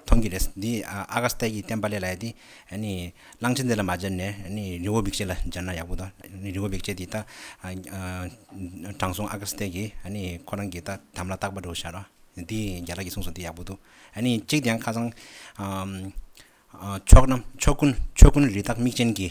མཐོང་གི་རེད། འདི་ཨ་ག་སྟག་གིས་བསྟན་པ་ལས་ལ་ཡ་དེ། གླང་ཆེན་དེ་ལ་མ་སྦྱར་ནས་རི་བོ་འབིགས་བྱེད་ལ་སྦྱར་ན་ཡག་པོ་ད། རི་བོ་འབིགས་བྱེད་དེ་ད། དྲང་སྲོང་ཨ་ག་སྟག་གིས་ཁོ་རང་གི་དམ་ལ་བཏགས་པ་འགྲོ་བྱར། དེ་རྒྱ་ལག་གིས་གསུངས་སོང་དེ་ཡག་པོ་འདུག། གཅིག་དེ་ཡང་ཁ་སང། ཕྱོགས་ཀུན་རི་དྭགས་མིག་ཅན་གྱི།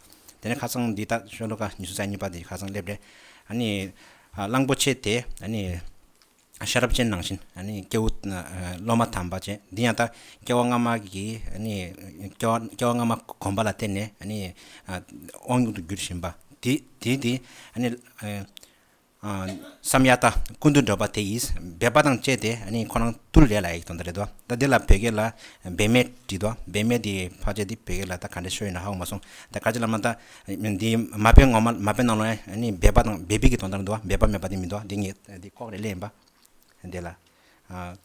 དེ་ནས་ཁ་རྩང་འདི་དག་ཤོ་ལོ་ཀ་ཉི་ཤུ་རྩ་གཉིས་པ་དེ་ཁ་རྩང་སླེབས་རྗེས། གླང་པོ་ཆེ་དེས། ཤ་རབ་ཅན་ནང་བཞིན་སྐྱེ་བོ་སློབ་མ་དམ་པ་བཅས་འདི་ཡང་དག་སྐྱེ་བ་སྔ་མ་གི་སྐྱེ་བ་སྔ་མ་གོམས་པ་ལ་བརྟེན་ནས་དབང་ལུང་དུ་བསྒྱུར་བཞིན་པ། དེས་དེ། བསམ་ཡག་ད་ཀུན་ཏུ་འགྲོ་པ་དེ་ཡིས་སྦས་པ་དང་བཅས་ཏེ་ནི་ཁོ་རང་ཏུ་ལས་ལ་ཡིག་ཐོག་འདི་རེད་དོ་ད་འདི་ལ་བོད་སྐད་ལ་སྦས་མེད་བྲིས་དོ་སྦས་མེད་འདི་ཕག་ཆ་འདི་བོད་སྐད་ལ་ད་ག་འདྲ་ཤོད་ཡོད་ན་ཧ་གོ་མ་སོང་ད་དཀར་ཆ་ལབ་ན་ད་འདི་མ་དཔེ་ངོ་མ་མ་དཔེ་ནང་ལོ་ནི་སྦས་པ་དང་སྦས་པའི་གི་དོན་དར་འདུག་སྦས་པ་མེད་པ་འདི་མི་འདུག་འདི་ངེད་འདི་ལྐོག་རེ་གླེང་ཡིན་པ་འདི་ལ་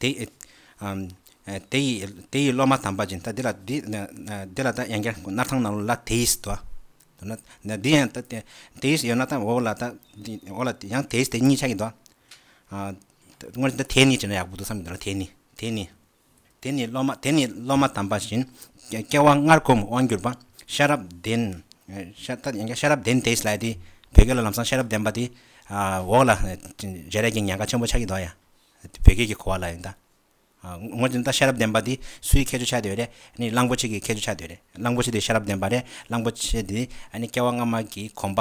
དེ་ཡི་སློབ་མ་དམ་པ་ཅན་དག་འདི་ལ་འདི་ལ་དག་ཡང་བསྐྱར་སྣར་ཐང་ནང་ལ་དེ་ཡིས་དོ། འདི་ཡང་དེ་ཡིས་ཡོད་ན་དག་འོག་ལ་དག་ཡང་དེ་ཡིས་དེ་གཉིས་ཆགས་ཀྱི་འདུག། དངོས་གཞི་འདི་དེ་ནི་ཅེ་ན་ཡག་པོ་འདུག་བསམ་གྱི་འདུག་དེ་ནི་དེ་ནི། དེ་ནི་སློབ་མ་དམ་པ་བཞིན། སྐྱེ་བ་སྔར་གོམས་དབང་བསྒྱུར་པ། ཤ་རབ་ལྡན། ཤ་རབ་ལྡན་དེས་ལས་དེ། བོད་སྐད་ལ་ལམ་སང་ཤ་རབ་ལྡན་པ་དེ། འོག་ལ་བྱེད་རས་ཀྱི་ཉལ་ཁ་ཆེན་པོ་ཆགས་ཀྱི་འདུག་ཡ། བོད་སྐད་ཀྱི་གོ་བ་ལ་ཡིན་ད། ངོ་ཅན་ད་ཤ་རབ་ལྡན་པ་དེ་སུའི་ཁྱད་ཆོས་ཆགས་འདོད་རེད། ནི་གླང་པོ་ཆེ་གི་ཁྱད་ཆོས་ཆགས་འདོད་རེད། གླང་པོ་ཆེ་དེ་ཤ་རབ་ལྡན་པ་རེད། གླང་པོ་ཆེ་དེ་སྐྱེ་བ་སྔ་མ་གི་གོམས་པ་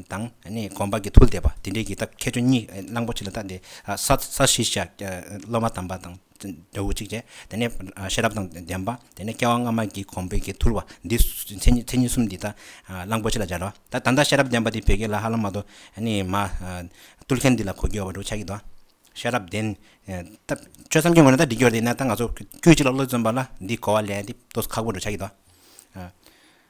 དང། གོམས་པ་གི་ཐུལ་དེད་པ་དེ་འདྲའི་གི་ད་ཁྱད་ཆོས་གཉིས་གླང་པོ་ཆེ་ལ་ད་དེ། ས་བཞི་ཤ། སློབ་མ་དམ་པ་དང། དོ་བོ་གཅིག་བྱས། དེ་ནས་ཤེས་རབ་དང་ལྡན་པ། དེ་ནས་སྐྱེ་བ་སྔ་མ་གྱི་གོང་འཕེལ་གྱི་ཐུར་བ། འདི་མཚན་ཉིད་གསུམ་འདི་དག་གླང་པོ་ཆེ་ལ་སྦྱར་རོ། ད་ལྟ་ཤེས་རབ་ལྡན་པ་འདི་བོད་སྐད་ལ་ཧ་ལམ་མ་གཏོགས། གཏོད་མཁན་འདི་ལ་གོ་རྒྱུ་ཡོད་པ་འདུག་ཆ་གི་དོ། ཤེས་རབ་ལྡན། ཆོས་ཐམས་ཅད་ངོས་ནས་ད་འདྲི་རྒྱུར་འདི་ནས་ད་ང་ཚོ་དཀྱུས་གཅིག་ལ་བློ་བརྩོན་པ་ལ་འདི་གོ་བ་ལས་འདི་གཏོད་ཁག་པོ་འདུག་ཆ་གི་དོ།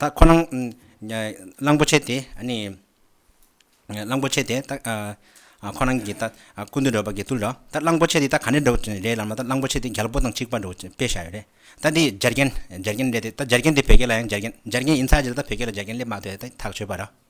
ད་ཁོ་རང་གླང་པོ་ཆེ་དེ་གླང་པོ་ཆེ་དེ་ཁོ་རང་གི་སྐུ་མདུན་རོལ་པར་དགེ་ཚུལ་ལོ་ད་གླང་པོ་ཆེ་དེ་ད་ག་ནས་འགྲོ་བ་རེད་ལབ་ན་ད་གླང་པོ་ཆེ་དེ་རྒྱལ་པོ་དང་གཅིག་པ་འགྲོ་བའི་དཔེ་བཞག་ཡོད་རེད་ད་འདི་རྒྱ་རྒན་རྒྱ་རྒན་རེད་དེ་ད་རྒྱ་རྒན་དེ་བོད་སྐད་ལ་ཡང་རྒྱ་རྒན་རྒྱ་རྒན་ཡིན་ཚར་རྗེས་ད་བོད་སྐད་ལ་རྒྱ་རྒན་སླེབས་མ་ཐུབ་ཐག་ཆོད་པ་རེད།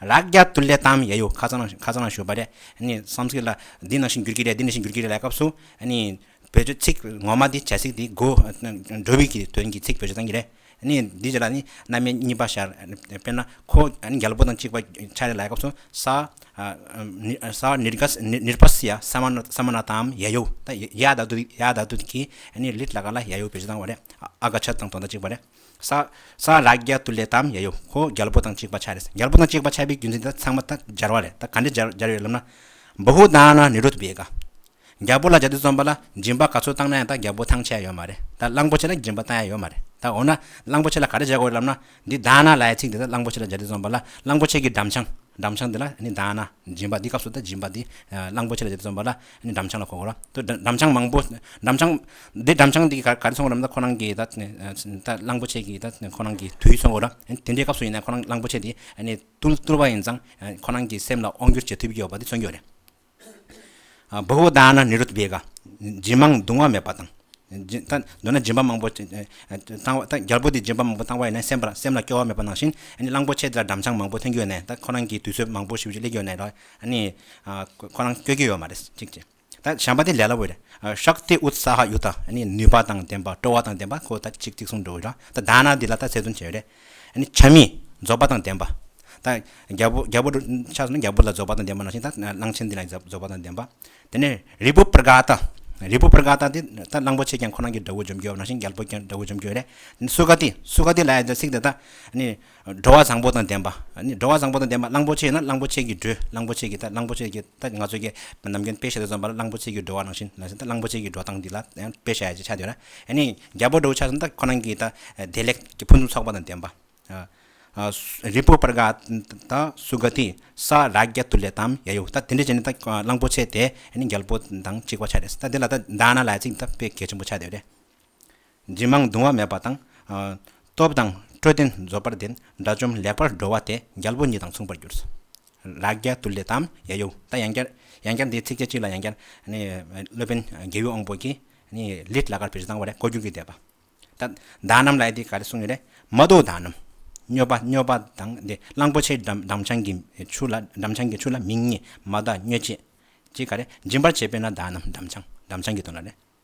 རགས་རྒྱ་དུ་ལས་དམ་ཡ་ཡོ་ཁ་ཚང་ཁ་ཚང་ལ་ཞུ་བ་རེད་ནི་བསམ་ཚིག་ལ་འདི་ནང་བཞིན་འགྱུར་གྱི་རེད་འདི་ནང་བཞིན་འགྱུར་གྱི་རེད་ལ་སྐབས་སུ་ནི་བོད་ཆོས་ཚིག་ངོ་མ་དེ་བྱ་ཚིག་དེ་གོ་འགྲོ་བའི་གི་དོན་གྱི་ཚིག་བོད་ཆོས་ཚང་གི་རེད་ནི་འདི་ལ་ནི་རྣམ་དབྱེ་གཉིས་པ་ཤར་དཔེར་ན་ཁོ་ནི་རྒྱ་ལོ་པོ་དང་གཅིག་པ་ཆ་རེད་ལ་སྐབས་སུ་ས་ས་ནིར་ག་ནིར་བ་སི་ཡ་ས་མ་ན་ས་མ་ན་དམ་ཡ་ཡོ་ད་ཡ་ད་དུ་ཡ་ད་དུ་གི་ནི་ལིར་ལ་ག་ལ་ཡ་ཡོ་བོད་ཆོས་ཚང་བ་རེད་ཨ་ག་ཆ་དང་དོ་ཟླ་གཅིག་པ་རེད། ས། ས་རཱ་ག་ཏུ་ལེ་དམ་ཡ་ཡོ་ཧོ་རྒྱལ་པོ་དང་གཅིག་པ་ཆགས་རེད་རྒྱལ་པོ་དང་གཅིག་པ་ཆགས་པའི་རྒྱུ་མཚན་དེ་དག་ཚང་མ་ད་སྦྱར་བ་རེད་ད་ག་འདྲས་སྦྱར་ཡོད་ལབ་ན། བུ་ཧུ་དང་ན་ནི་རུ་ཐུ་བེ་ག། རྒྱལ་པོ་ལ་ཇ་ཏི་རྩོམ་པ་ལ་སྦྱིན་པ་ག་ཚོད་བཏང་ན་ཡང་ད་རྒྱལ་པོ་ཐང་ཆད་ཡོད་མ་རེད་ད་གླང་པོ་ཆེ་ལ་སྦྱིན་པ་བཏང་ཡ་ཡོད་མ་རེད་ད་འོ་ན་གླང་པོ་ཆེ་ལ་ག་འདྲས་སྦྱར་དགོས་རེད་ལབ་ན་འདི་ད་ན་ལའི་ཚིག་འདི་ད་གླང་པོ་ཆེ་ལ་ཇ་ཏི་རྩོམ་པ་ལ་གླང་པོ་ཆེ་གི་འགྲམ་ཆང་འགྲམ་ཆང་འདི་ལ་ནི་ད་ན་སྦྱིན་པ་འདི་སྐབས་སུ་ད་སྦྱིན་པ་འདི་གླང་པོ་ཆེ་ལ་ཇ་ཏི་རྩོམ་པ་ལ་ནས་འགྲམ་ཆང་ལ་གོ་གོ་ར། དེ་འགྲམ་ཆང་མང་པོ། འགྲམ་ཆང། དེ་འགྲམ་ཆང་དེ་ག་རེ་ཚོང་གོ་རམ་ད་ཁོ་རང་གི་ད། གླང་པོ་ཆེ་གི་ད་ཁོ་རང་གི་དུས་ཚོང་གོ་ར། དེ་འདྲའི་སྐབས་སུ་ཡིན་ན་ཁོ་རང་གླང་པོ་ཆེ་དེ། ཏུར་ཏུར་བ་ཡིན་ཙང། ཁོ་རང་གི་སེམས་ལ་དབང་བསྒྱུར་བྱེད་ཐུབ་ཀྱི་ཡོད་པ་དེ་མཚོན་གྱི་ཡོད་རེད། བྷ་བྷོ་དཱ་ན་ནི་རུ་ཏི་བྷེ་ག། སྦྱིན་མང་གདུང་བ་མེད་པ་དང། ད་མདོར་ན་སྦྱིན་པ་མང་པོ། བཏང་བ་ད་རྒྱལ་པོ་དེ་སྦྱིན་པ་མང་པོ་བཏང་བ་ཡིན་ན་སེམས་ལ་སྐྱོ་བ་མེད་པ་ནང་བཞིན། གླང་པོ་ཆེ་དེ་ལ་འགྲམ་ཆང་མང་པོ་འཐེན་གྱི་ཡོད་ནས་ད་ཁོ་རང་གི་དུས་ཚོད་མང་པོ་ཞིབ་ཞིབ་སླེབས་ཀྱི་ཡོད་ནས་ར། ནི། ཁོ་རང་སྐྱོད་ཀྱི་ཡོད་མ་རེད་ཅིག་ཅེས། ད་བྱམས་པ་དེ་ལས་སླ་བོ་རེད། ཤཀ་ཏི་ཨུད་སྭ་ཧཱ་ཡུ་ཏཱ། ནུས་པ་དང་ལྡན་པ་སྤྲོ་བ་དང་ལྡན་པ་ཁོ་ད་ཅིག་ཅིག་གསུངས་འགྲོ་གི་རེད། ད་དཱ་ན་འདི་ལ་ད་ཚད་དུ་བྱས་རེད། བྱམས་མི། རྫོགས་པ་དང་ལྡན་པ། ད་རྒྱལ་པོ་རྒྱལ་པོ་ཆགས་སོང་ན་རྒྱལ་པོ་ལ་རྫོགས་པ་དང་ལྡན་པ་ནང་བཞིན་ད་གླང་ཆེན་འདི་ལ་རྫོགས་པ་དང་ལྡན་པ། དེ་ནས་རི་བོ་པར་ག་ཏཱ། རི་བོ་པར་ག་ཏཱ་འདི་ད་གླང་པོ་ཆེ་ཀྱང་ཁོ་རང་གི་དགྲ་བོ་འཇོམས་ཀྱི་ཡོད་པ་ནང་བཞིན་རྒྱལ་པོ་ཀྱང་དགྲ་བོ་འཇོམས་ཀྱི་ཡོད་རེད། སུ་ཀ་ཏི་སུ་ཀ་ཏི་ལ་ཡང་ཚིག་དེ་དག། འགྲོ་བ་བཟང་པོ་དང་ལྡན་པ། འགྲོ་བ་བཟང་པོ་དང་ལྡན་པ་གླང་པོ་ཆེ་ཡིན་ན་གླང་པོ་ཆེ་གིས་འགྲོས་གླང་པོ་ཆེ་གིས་ལྟ་གླང་པོ་ཆེ་གིས་ལྟ་ང་ཚོས་ཀྱི་ནམ་རྒྱུན་དཔེ་བཤད་དུ་བརྩོན་པ་ལ་གླང་པོ་ཆེ་གིས་འགྲོ་བ་ནང་བཞིན་ན་བཞིན་ལྟ་གླང་པོ་ཆེ་གིས་འགྲོ་སྟངས་འདི་ལ་དཔེ་བཤད་ཅེས་བྱ་འདོད་ན་ནི་རྒྱལ་པོ་འགྲོ་བའི་ཆ་ཟིན་ལྟ་ཁོ་རང་གིས་ལྟ་བདེ་ལེགས་ཀྱི་ཕུན་སུམ་ཚོགས་པ་དང་ལྡན་པ། རི་བོ་པར་ག་ད་སུ་ག་ཏི་ས་རཱ་ག་ཏུ་ལེ་ཏཱམ་ཡ་ཡུ་ལྟ་དེ་འདྲས་བྱས་ནས་ལྟ་གླང་པོ་ཆེ་དེ་ནི་རྒྱལ་པོ་དང་གཅིག་པ་ཆ་རེད་ལྟ་དེ་ལ་ལྟ་མདའ་ན་ལ་ཅིག་ལྟ་དཔེ་གལ་ཆེན་པོ་ཆ་འདོད་རེད། འབྲིང་མང་གདུང་བ་མེད་པ་དང། སྟོབས་དང་སྤྲོ་ལྡན་རྫོགས་པར་ལྡན། དགྲ་བཅོམ་ལེགས་པར་འགྲོ་བ་དེ་རྒྱལ་པོ་ཉིད་དང་མཚུངས་པར་གྱུར། རག་རྒྱ་དུ་ལས་དམ་ཡ་ཡོ། ད་ཡང་བསྐྱར། ཡང་བསྐྱར་འདིའི་ཚིགས་བཅད་གཅིག་ལ་ཡང་བསྐྱར། སློབ་དཔོན་རྒྱལ་ཡུལ་དབང་པོ་གྱིས། ལིད་ལ་ཀར་བེར་བཟང་བ་རེ་ཀོ་རྒྱུག་གིས་བཟླས་པ། ད་བདག་རྣམས་ལ་ཡི་དེ་ག་རེ་གསུངས་ཡོད་རེད། མ་བཟློག་བདག་རྣམས། སྨྱོས་པ་སྨྱོས་པ་དང་འདི་གླང་པོ་ཆེའི་འགྲམ་ཆང་གི་ཆུ་ལ་འགྲམ་ཆང་གི་ཆུ་ལ་མིང་གཉིས་མ་བཟླ་སྨྱོས་བྱེད། ཅི་ག་རེ་སྦྱིན་པར་བྱེད་པས་ན་བདག་རྣམས་འགྲམ་ཆང་འགྲམ་ཆང་གི་དོན་ལ་རེ།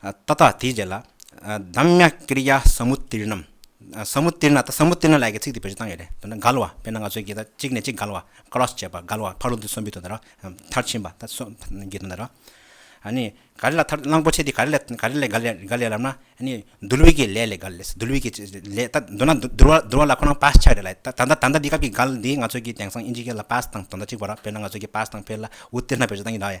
ཏདྱ་ཐཱ་དེའི་རྗེས་ལ། དཱམ་ཉཱ་ཀིར་ཡཱ་སཱ་མུ་ཏཱི་རྣམ། སཱ་མུ་ཏཱི་རྣ་ད་སཱ་མུ་ཏཱི་རྣ་ལ་ཡི་གེ་ཚིག་འདི་བེད་སྤྱོད་གཏང་ཡོད་རེད་དོན་ན་འགལ་བ་དཔེར་ན་ང་ཚོའི་གི་ད་གཅིག་ནས་གཅིག་འགལ་བ Cross བྱེད་པ་འགལ་བ་ཕག་ལུག་འདི་གསོན་པོའི་དོན་དུ་ར། མཐར་ཕྱིན་པ་ད་སོ་གི་དོན་དུ་ར། ཨཱ་ནི་ག་རེ་ལ་མཐར་གླང་པོ་ཆེ་དེ་ག་རེ་ལས་ག་རེ་ལས་འགལ་ཡ་འགལ་ཡ་རབ་ན་ཨཱ་ནི་འདུལ་བའི་གི་ལས་ལས་འགལ་ལས་སོ་འདུལ་བའི་གི་ལས་ད་འདོད་ན་འདུལ་བ་འདུལ་བ་ལ་ཁོ་རང་པཱས་ཆགས་རེད་ལ་ད་ད་ད་འདི་སྐབས་ཀྱི་འགལ་འདི་ང་ཚོའི་གི་དེང་སང་དབྱིན་ཇིའི་གི་ལ་པཱས་དང་དོན་དག་གཅིག་པ་ར་དཔེར་ན་ང་ཚོའི་གི་པཱས་དང་ཕེར་ལ་ཝུ་ཏི་རྣ་བེད་སྤྱོད་གཏང་གི་འདྲ་ཡ།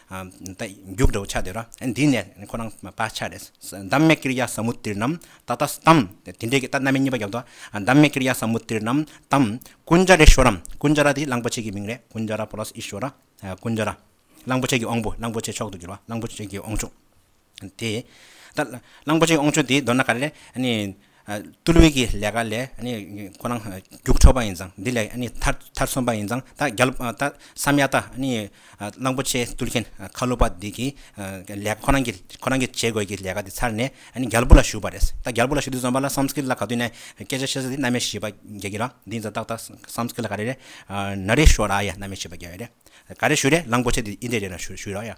རྒྱུགས་འདྲ་བོ་ཆགས་འདོད་ར། འདི་ནས་ཁོ་རང་དཔའ་ཆགས་རེད། བདག་མེད་ཀིར་ཡ་སཱ་མུ་ཏིར་ནམ། ད་ད་སྟམ། དེ་འདྲའི་གིས་ད་སྣ་མའི་གཉིས་པ་བརྒྱབ་འདུག་ཨ། བདག་མེད་ཀིར་ཡ་སཱ་མུ་ཏིར་ནམ། དམ། ཀུན་ཇཱ་རེ་ཤོ་ར། ཀུན་ཇཱ་ར་དེ་གླང་པོ་ཆེ་གི་མིང་རེད། ཀུན་ཇཱ་ར Plus ཨི་ཤོ་ར། ཀུན་ཇཱ་ར། གླང་པོ་ཆེ་གི་དབང་པོ་གླང་པོ་ཆེ་མཆོག་ཏུ་གྱུར་བ། གླང་པོ་ཆེ་གི་དབང་ཕྱུག། དེ། གླང་པོ་ཆེའི་ཨོང་ཆུང་དེའི་མདོར་ན་ག་རེ་ལས། བཏུལ་བས་ཀྱི་ལས་ཀ་ལས་ཁོ་རང་རྒྱུགས་འཕྲོག་པ་ཡིན་ཙང་འདི་ལས་མཐར་སོན་པ་ཡིན་ཙང་ད་རྒྱ་ལོ་ད་བསམ་ཡག་ད་གླང་པོ་ཆེ་བཏུལ་མཁན་ཁ་ལོ་པ་འདི་གི་ལས་ཁོ་རང་གིས་བྱེད་དགོས་ཀྱི་ལས་ཀ་དེ་ཚར་ནས་རྒྱ་ལོ་པོ་ལ་ཞུགས་པ་རེད་ད་རྒྱ་ལོ་པོ་ལ་ཞུགས་དུས་བསམ་པ་ལ་བསམ་ཚུལ་ལ་ག་དུས་ནས་སྐད་ཆ་བཤད་ས་དེ་གནའ་མི་ཞིག་པ་རྒྱལ་གྱི་རང་འདི་ཡིན་ཙང་ཏག་ཏག་བསམ་ཚུལ་ལ་ག་རེ་རེད་ན་རེ་ཞུ་ར་ཡ་གནའ་མི་ཞིག་པ་རྒྱལ་བས་རེད་ག་རེ་ཞུ་རེད་གླང་པོ་ཆེ་འདི་འདྲས་རེད་ན་ཞུ་ར་ཡ།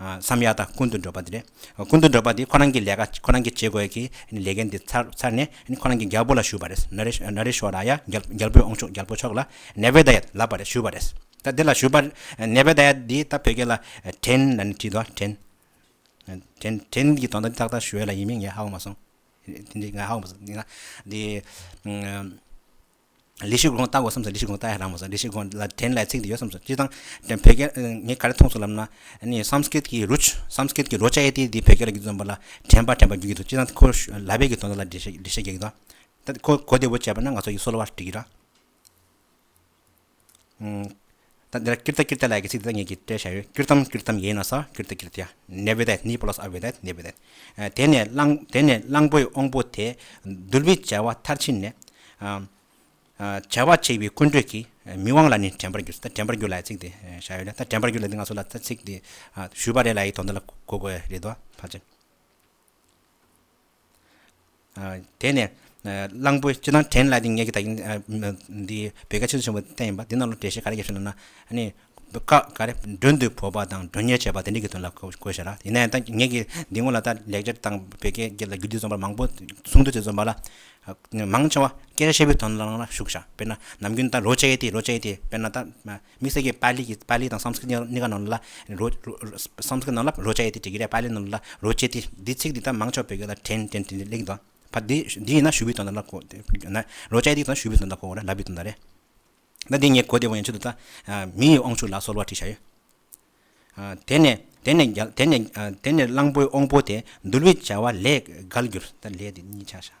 བསམ་ཡག་དང་ཀུན་ཏུ་འགྲོ་པ་དེ་རེད། ཀུན་ཏུ་འགྲོ་པ་དེ་ཁོ་རང་གི་ལས་ཀ་ཁོ་རང་གིས་བྱེད་དགོས་ཀྱི་ལས་འགན་དེ་ཚར་ནས་ཁོ་རང་གི་རྒྱལ་པོ་ལ་ཞུས་པ་རེད། ན་རེ་ན་རེ་ཞོ་ར་ཡ་རྒྱལ་པོས་ཨོང་ཆུང་རྒྱལ་པོ་མཆོག་ལ་ནེ་བེ་དཱ་ཡ་ལབ་པ་རེད་ཞུས་པ་རེད། ད་དེ་ལ་ཞུས་པ་ནེ་བེ་དཱ་ཡ་འདི་ད་བོད་སྐད་ལ་བྲན་ལ་ནི་བྲིས་འདུག་བྲན། བྲན་བྲན་གྱི་དོན་དང་ཏག་ཏག་ཞུ་ཡ་ལ་ཡིན་མིན་ངས་ཧ་གོ་མ་སོང། འདི་ང་ཧ་གོ་མ་སོང། འདི། ལི་ཤི་ཀོང་ལྟ་དགོས་བསམས་སོ་ལི་ཤི་ཀོང་ལྟ་ཡ་རང་མ་བཟོ་ལི་ཤི་ཀོང་ལ་དྲན་བསླད་ཚིག་འདི་ཡོད་བསམས་སོ་སྤྱིར་བཏང་དྲན་བོད་སྐད་ངས་ག་རེ་མཐོང་སོང་ལབ་ན་ནི་སམ་སྐིད་ཀྱི་རུ་སམ་སྐིད་ཀྱི་རོ་ཅའི་ཏི་འདི་བོད་སྐད་ལ་རྒྱུད་བཙོན་པ་ལ་དྲན་པ་དྲན་པ་རྒྱུད་ཀྱི་འདུག་སྤྱིར་བཏང་ཁོ་ལ་བས་ཀྱི་དོན་དག་ལ་འགྲེལ་བཤད་རྒྱག་གི་འདུག་ད་ཁོ་གོ་བདེ་བོ་བྱས་པ་ན་ང་ཚོ་ཡིད་སོ་ལོ་བར་འགྲིག་གི་ར། ད་འདིར་ཀིརྟ་ཀིརྟ་ལ་ཡི་གེ་ཚིག་འདི་དག་ངེད་ཀྱིས་བཀྲལ་བྱ་ཡོད་ཀིར་ཏམ་ཀིར་ཏམ་ཡེ་ན་སྭ་ཀིར་ཏི་ཀིར་ཏི་ཡ་ནེ་བྷི་དད་ནི་པོ་ལ་སྭ་བྷི་དད་ནི་བྷི་དད། དེ་ནས་གླང་དེ་ནས་གླང་པོའི་དབང་པོ་དེས་གདུལ་བའི་བྱ་བ་མཐར་ཕྱིན་ནས། བྱ་བ་བྱེད་པའི་ཀུན་གྲོལ་གྱི་མི་དབང་ལ་ནི་དྲན་པར་འགྱུར་ད་དྲན་པར་འགྱུར་ལ་ཡི་ཚིག་འདི་བྱ་ཡོད་ན་ད་དྲན་པར་འགྱུར་ལ་འདི་ང་ཚོ་ལ་ད་ཚིག་འདི་ཞུས་པ་རེད་ལ་ཡི་དོན་འདི་ལ་གོ་དགོས་རེད་དོ་ཕ་ཅན། དེ་ནས་གླང་པོས་སྤྱི་དང་བྲན་གླ་དེ་ངེད་ཀྱི་ད་གིན་འདི་བོད་སྐད་ཆེན་པོ་ཆེན་པོ་བསྟན་ཡིན་པ་འདི་རྣམས་ལ་འགྲེལ་བཤད་ག་རེ་བརྒྱབ་ཤེ་ན་ནི། བཀའ་ག་རེ་མགྲོན་དུ་བོར་བ་དང་མགྲོན་གཉེར་བྱེད་པ་དེ་འདྲི་གི་དོན་ལ་གོ་ཞེ་ན། ཡིན་ན་ཡང་ངེད་ཀྱི་འདི་སྔོན་ལ་ད་ལེགས་སྦྱར་དང་བོད་སྐད་བརྒྱད་ལ་རྒྱུད་སྡེ་རྩོམ་པ་མང་པོ་གསུང་དུས་དེ་རྩོམ་པ་ལ་མང་ཆེ་བ་སྐད་ཆ་བཤད་པོའི་དོན་ལ་ལ་ཞུགས་ཤག་དཔེར་ན་ནམ་རྒྱུན་ད་རོ་བྱས་ཏེ་རོ་བྱས་ཏེ་དཔེར་ན་ད། དམིགས་བསལ་གྱི་པཱ་ལི་ཡི་པཱ་ལི་དང་སངས་སྐྲིད་གཉིས་ཀ་ནང་ལ་རོ། སངས་སྐྲིད་ནང་ལ་རོ་བཅའ་ཡས་ཏེ་ཀྲི་ཀི་རཱའི་པཱ་ལི་ནང་ལ་རོ་བཅས་ཏེ། འདིའི་ཚིག་འདི་དག་མང་ཆོག་བོད་སྐད་ལ་དྲན་དྲན་དྲན་གླེང་དང། བར་འདི་འདི་ཡིན་ན་ཞུ་བི་དོན་དང་ལ་གོ། ན་རོ་བཅའ་ཡས་ཏེ་དང་ཞུ་བི་དོན་དང་གོ་བོ་ན་ལ་བི་དོན་དང་རེད། ད་འདི་ངས་གོ་བདེ་བོ་ཡིན་ཆེད་དུ་ད། མི་ཡི་དབང་ཕྱུག་ལ་སོལ་བ་བྲིས་བཞག་ཡོད། དེ་ནས་དེ་ནས་རྒྱ་དེ་ནས་དེ་ནས་གླང་པོའི་དབང་པོ་དེ་འདུལ་བའི་བྱ་བ་ལས་བརྒལ་གྱུར། ད་ལས་དེ་གཉིས་ཆགས་བཞག།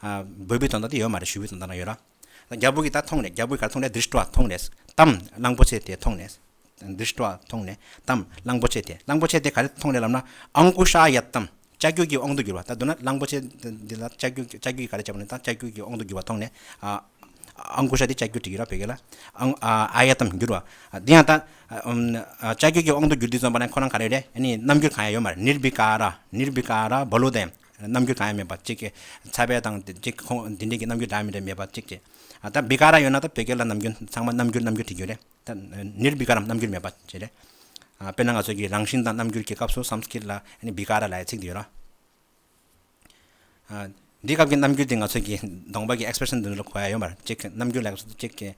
འབོད་བུའི་དོན་དག་དེ་ཡོད་མ་རེད་ཞུ་བོའི་དོན་དག་ན་ཡོད་ར། རྒྱ་བོད་ཀྱི་དག་མཐོང་ནས་རྒྱ་བོད་ག་རེ་མཐོང་ནས་དིར་སྤྲོ་བ་མཐོང་ནས་དམ་གླང་པོ་ཆེ་དེ་མཐོང་ནས། དིར་སྤྲོ་བ་མཐོང་ནས་དམ་གླང་པོ་ཆེ་དེ་གླང་པོ་ཆེ་དེ་ག་རེ་མཐོང་ནས་ལབ་ན་ཨང་ཀུ་ཤ་ཡབ་དམ་ལྕགས་ཀྱུ་ཀྱི་དབང་དུ་གྱུར་བ་ད་བསྡུ་ན་གླང་པོ་ཆེ་འདི་ལ་ལྕགས་ཀྱུ་ལྕགས་ཀྱུ་ཡིས་ག་རེ་བྱས་པ་ནི་དང་ལྕགས་ཀྱུ་ཀྱི་དབང་དུ་གྱུར་བ་མཐོང་ནས་ཨང་ཀུ་ཤ་དེ་ལྕགས་ཀྱུ་དྲི་གུ་ར་བོད་སྐད་ལ་ཨང་ཨ་ཡ་དམ་གྱུར་བ་འདི་ཡང་དག་ལྕགས་ཀྱུ་ཀྱི་དབང་དུ་གྱུར་འདི་རྩོམ་པ་ན་ཁོ་རང་ག་རེ་རེད་ཡིན་ནི་རྣམ་འགྱུར་གང་ཡང་ཡོད་མ་རེད་ནིར་བི་ཀ་ར་ནིར་བི་ཀ་ར་བྷ་ལུ་དེ། རྣམ་འགྱུར་གང་ཡང་མེད་པ་གཅིག། ཚ་བའི་དང། གཅིག་ཁོང་འདི་འདྲའི་གི་རྣམ་འགྱུར་གང་ཡང་མེད་པ་གཅིག་ཅེས། ད་བི་ཀ་ར་ཡོད་ན་ད་བོད་སྐད་ལ་ནམ་རྒྱུན་ཚང་མ་རྣམ་འགྱུར་རྣམ་འགྱུར་དྲི་རྒྱུ་རེད། ད་ནིར་བི་ཀ་རམ་རྣམ་འགྱུར་མེད་པ་ཅེས་རེད། དཔེར་ན་ང་ཚོས་གི་རང་བཞིན་དང་རྣམ་འགྱུར་གི་སྐབས་སུ་སམ་སྐིར་ལ་ནི་བི་ཀ་ར་ལའི་ཚིག་འདི་ཡོད་རོ། འདིའི་སྐབས་ཀྱི་རྣམ་འགྱུར་དེ་ང་ཚོས་གི་གདོང་པ་གི expression འདི་འདྲ་ལ་གོ་ཡ་ཡོད་མར་གཅིག་རྣམ་འགྱུར་ལ་སོ་སོ་གཅིག་གི།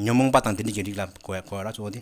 ཉོན་མོངས་པ་དང་འདི་འདྲ་གི་རིགས་ལ་གོ་ཡ་གོ་ཡ་ར་གཙོ་བོ་དེ།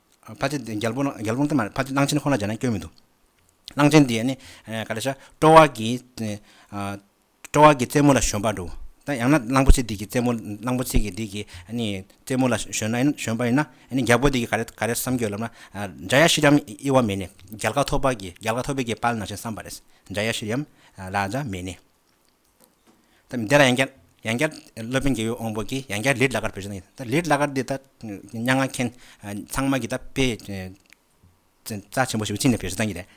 ཕ་ཆེན་དེ་རྒྱལ་པོ་དེ་མ་རེད་ཕ་ཆེན་གླང་ཆེན་ཁོ་ན་སྦྱར་ན་སྐྱོན་མི་འདུག་གླང་ཆེན་དེ་ནི་ག་རེ་ཤ་སྤྲོ་བ་གི་སྤྲོ་བ་གི་རྩེད་མོ་ལ་ཞོན་པ་འདུག་ད་ཡང་ན་གླང་པོ་ཆེ་དེ་གི་རྩེད་མོ་གླང་པོ་ཆེ་གི་དེ་གི་རྩེད་མོ་ལ་ཞོན་ན་ཞོན་པ་ཡིན་ན་རྒྱལ་པོ་དེ་གི་ག་རེ་ག་རེ་བསམ་རྒྱུ་ཡོད་ལབ་ན་འཇའ་ཡ་ཤི་རམ་དབྱི་བ་མེད་ནས་རྒྱལ་ཁ་ཐོབ་པ་གི་རྒྱལ་ཁ་ཐོབ་པའི་གི་དཔལ་ནང་བཞིན་བསམ་པ་རེད་འཇའ་ཡ་ཤི་རམ་ལ་འཇའ་མེད་ནས་འདི་ལ་ཡང་བསྐྱར་ཡང་བསྐྱར་སློབ་དཔོན་རྒྱལ་ཡུལ་དབང་པོ་གིས་ཡང་བསྐྱར་ལིར་ལ་ཀར་བོད་ཅེས་གནང་ཡོད། ལིར་ལ་ཀར་འདི་ལྟར་སྙ་ང་མཁན་ཚང་མ་གི་ད་དཔེ་རྩ་ཆེན་པོ་ཞིག་ཅི་ནས་བོད་སུ་བཏང་གི་རེད།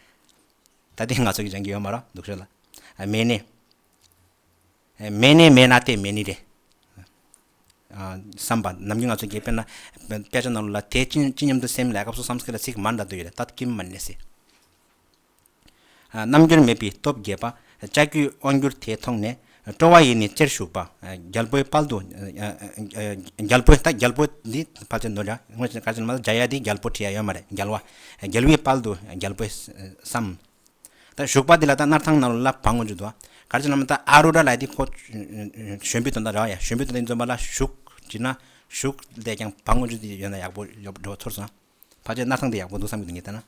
ད་ལྟའི་ང་ཚོ་གི་སྦྱང་གི་ཡོད་མ་རོགས་སྡུག་ཤོས་ལ། མེད་ནི། མེད་ནི་མེད་ན་ལྟས་མེད་ནི་རེད། བསམ་པ་ནམ་གྱི་ང་ཚོ་གི་དཔེར་ན་དཔེ་ཆ་ནང་ལ་དེ་ཅི་སྙམ་དུ་སེམས་ལས་སྐབས་སུ་སམ་སྐད་ལ་ཚིག་མང་དྲག་དུ་ཡོད་རེད་ད་ཀྱི་མ་ནས་སི། རྣམ་འགྱུར་མེད་པའི་སྟོབས་རྒྱས་པ། ལྕགས་ཀྱུའི་དབང་བསྒྱུར་དེ་མཐོང་ནས། སྤྲོ་བ་ཡེ་ནས་རྩེར་ཞུགས་པ། རྒྱལ་པོའི་དཔལ་དུ། རྒྱལ་པོ། ད་རྒྱལ་པོ་འདི་ཕལ་ཆེར་འདུག་འདྲ། སྔོན་བྱས་ཀ་ཆེན་མ་ལ་འཇའ་ཡལ་འདི་རྒྱལ་པོ་ཁྲི་ཡ་ཡོད་མ་རེད་རྒྱལ་བ། རྒྱལ་བའི་དཔལ་དུ་རྒྱལ་པོས་བསམ། ད་བཞུགས་པ་འདི་ལ་ད་སྣར་ཐང་ནང་ལོ་ལ་བག་ངོ་འཇུག་འདུག། ཀ་ཆེན་མ་ད་ཨ་རུ་ར་ལ་འདི་ཁོ། བཞོན་པོའི་དོན་དང་ར་བ་ཡ་བཞོན་པོའི་དོན་དང་འཛོམས་པ་ལ་བཞུགས། བྲིས་ན་བཞུགས། བལྟས་ཀྱང་བག་ངོ་འཇུག་འདི་ཡོད་ན་ཡག་པོ་འགྲོ་བ་ཚོར་སོང། ཕལ་ཆེར་སྣར་ཐང་འདི་ཡག་པོ་འདུག་བསམ་གྱི་འདུག་ངས་བལྟས་ན།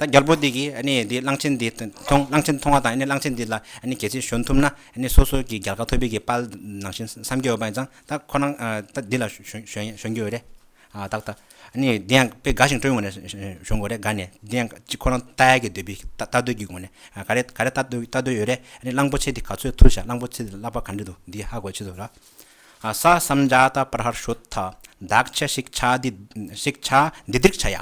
ད་རྒྱལ་པོ་འདི་གིས་གནས་འདིའི་གླང་ཆེན་འདི་མཐོང་གླང་ཆེན་མཐོང་བ་དང་གླང་ཆེན་འདི་ལ་གལ་ཆེན་ཞོན་ཐུབ་ན་སོ་སོ་གི་རྒྱལ་ཁ་འཐོར་འབིག་གི་དཔལ་ནང་བཞིན་བསམ་གྱི་ཡོད་པ་ཡིན་ཙང་ད་ཁོ་རང་ད་འདི་ལ་ཞོན་རྒྱུ་ཡོད་རེད་ཨ། བདག། ནི་འདི་ཡང་དཔེ་འགའ་ཞིག་སྤྲོས་ངོ་ནས་ཞུ་འགོ་རེད་དགའ་ནི་འདི་ཡང་གཅིག་ཁོ་རང་རྟ་ཡལ་གྱི་འདོད་པའི་རྟ་རྡོལ་གྱི་སྒོ་ནས་ག་རེ་ག་རེ་རྟ་རྡོལ་རྟ་རྡོལ་ཡོད་རེད་ནི་གླང་པོ་ཆེ་འདི་ག་ཚོད་ཐུར་བཞག་གླང་པོ་ཆེ་འདི་ལ་བ་ག་འདྲི་འདུག་འདི་ཧ་གོ་ཆེ་འདུག་ར། ཨ། ས་བསམ་རྒྱ་རྟ་པར་ཧར་ཤོད་ཐ། བདག་ཆ་ཞིག་ཆ་འདི་ཞིག་ཆ་འདི་འདིར་ཆ་ཡ།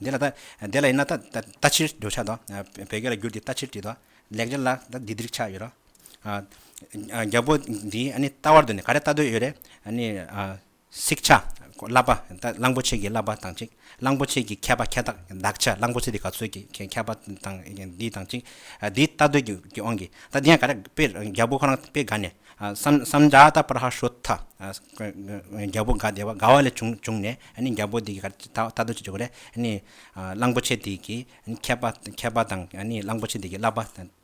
དེ་ལ་ད་དེ་ལ་ཡིན་ན་ད་ལྟ་ཕྱིར་འགྱུར་བྱ་དང། བོད་སྐད་ལ་བསྒྱུར་ཏེ་ལྟ་ཕྱིར་བྲིས་དང། ལེགས་སྦྱར་ལ་ད་འདི་འདིར་ཆགས་ཡོད་ར། རྒྱལ་པོ་འདིས་ཨ་ནི་ལྟ་བར་འདོད་ནས་ག་རེ་ལྟ་འདོད་ཡོད་རེད། ཨ་ནི། སིག་ཆ། བསླབ་པ། གླང་པོ་ཆེ་གི་བསླབ་པ་དང་གཅིག། གླང་པོ་ཆེ་གི་མཁས་པ་མཁས་བདག་བདག་ཆ་གླང་པོ་ཆེ་དེ་ག་ཚོད་ཀྱི་མཁས་པ་དང་འདི་དང་གཅིག། འདི་ལྟ་འདོད་ཀྱི་ཨང་གི་ད་འདི་ཡང་ག་རེ་དཔེ་རྒྱལ་པོ་ཁོ་རང་དཔེ་དགའ་ནས། སམ་བྱ་ད་པར་ཧ་ཧྲོ་ཐ། རྒྱལ་པོ་དགའ་བདེ་བ་དགའ་བ་ལས་བྱུང་ནས། ནི་རྒྱལ་པོ་དེ་གར་ད་ལྟ་ཅི་བྱེད་དགོས་རེད། ནི། གླང་པོ་ཆེ་དེ་གིས་མཁས་པ་མཁས་པ་དང་ནི་གླང་པོ་ཆེ་དེ་གིས་བསླབ་པ་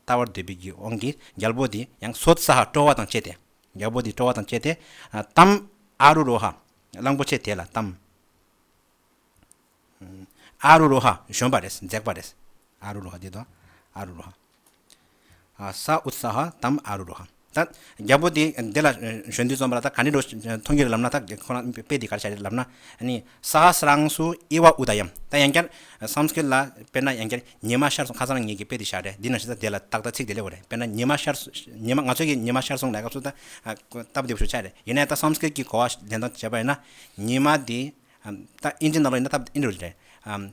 བལྟ་བར་འདོད་པའི་རྒྱུ་དབང་གིས་རྒྱལ་པོ་དེ་ཡང་སོ་ཙཱ་ཧ་སྤྲོ་བ་དང་བཅས་ཏེ། རྒྱལ་པོ་དེ་སྤྲོ་བ་དང་བཅས་ཏེ། ཏམ། ཨ་རུ་རོ་ཧ། གླང་པོ་ཆེ་དེ་ལ་ཏམ། ཨ་རུ་རོ་ཧ་བཞོན་པ་རེད་འཛེགས་པ་རེད། ཨ་རུ་རུ་ཧ་དེ་དང་ཨ་རུ་རུ་ཧ། ས་ཨུ་ས་ཧ་དམ་ཨ་རུ་རུ་ཧ། ད་རྒྱལ་པོ་དེས་འདི་ལ་གཞོན་དུས་རྩོམ་པ་ལ་ད་ག་འདྲའི་རོ་མཐོང་རྒྱུ་རེད་ལབ་ན་ད་ཁོ་རང་དཔེ་དེ་ག་རེ་བྱ་རེད་ལབ་ན། ས་ཧ་སི་རང་སུ་ཨི་ཝ་ཨུ་ད་ཡམ། ད་ཡང་བསྐྱར Sanskrit ལ་དཔེར་ན་ཡང་བསྐྱར་ཉི་མ་ཤར་སོང་ཁ་སང་ངེད་ཀྱིས་དཔེ་དེ་བཞག་རེད་འདི་ནང་བཞིན་ད་དེ་ལ་ཏག་ཏག་ཚིག་དེ་ལེགས་པ་རེད་དཔེར་ན་ཉི་མ་ཤར་ཉི་མ་ང་ཚོ་གིས་ཉི་མ་ཤར་སོང་ལས་སྐབས་སུ་ད་སྟབས་བདེ་པོ་ཞིག་ཆགས་རེད་ཡིན་ནའི་ད Sanskrit གྱི་གོ་བ་ལྡན་དང་བྱས་པ་ཡིན་ན་ཉི་མ་དེ་ད་ཨིན་ཇི་ནང་ལོགས་ཡིན་ན་སྟབས་བདེ་པོ་རེད།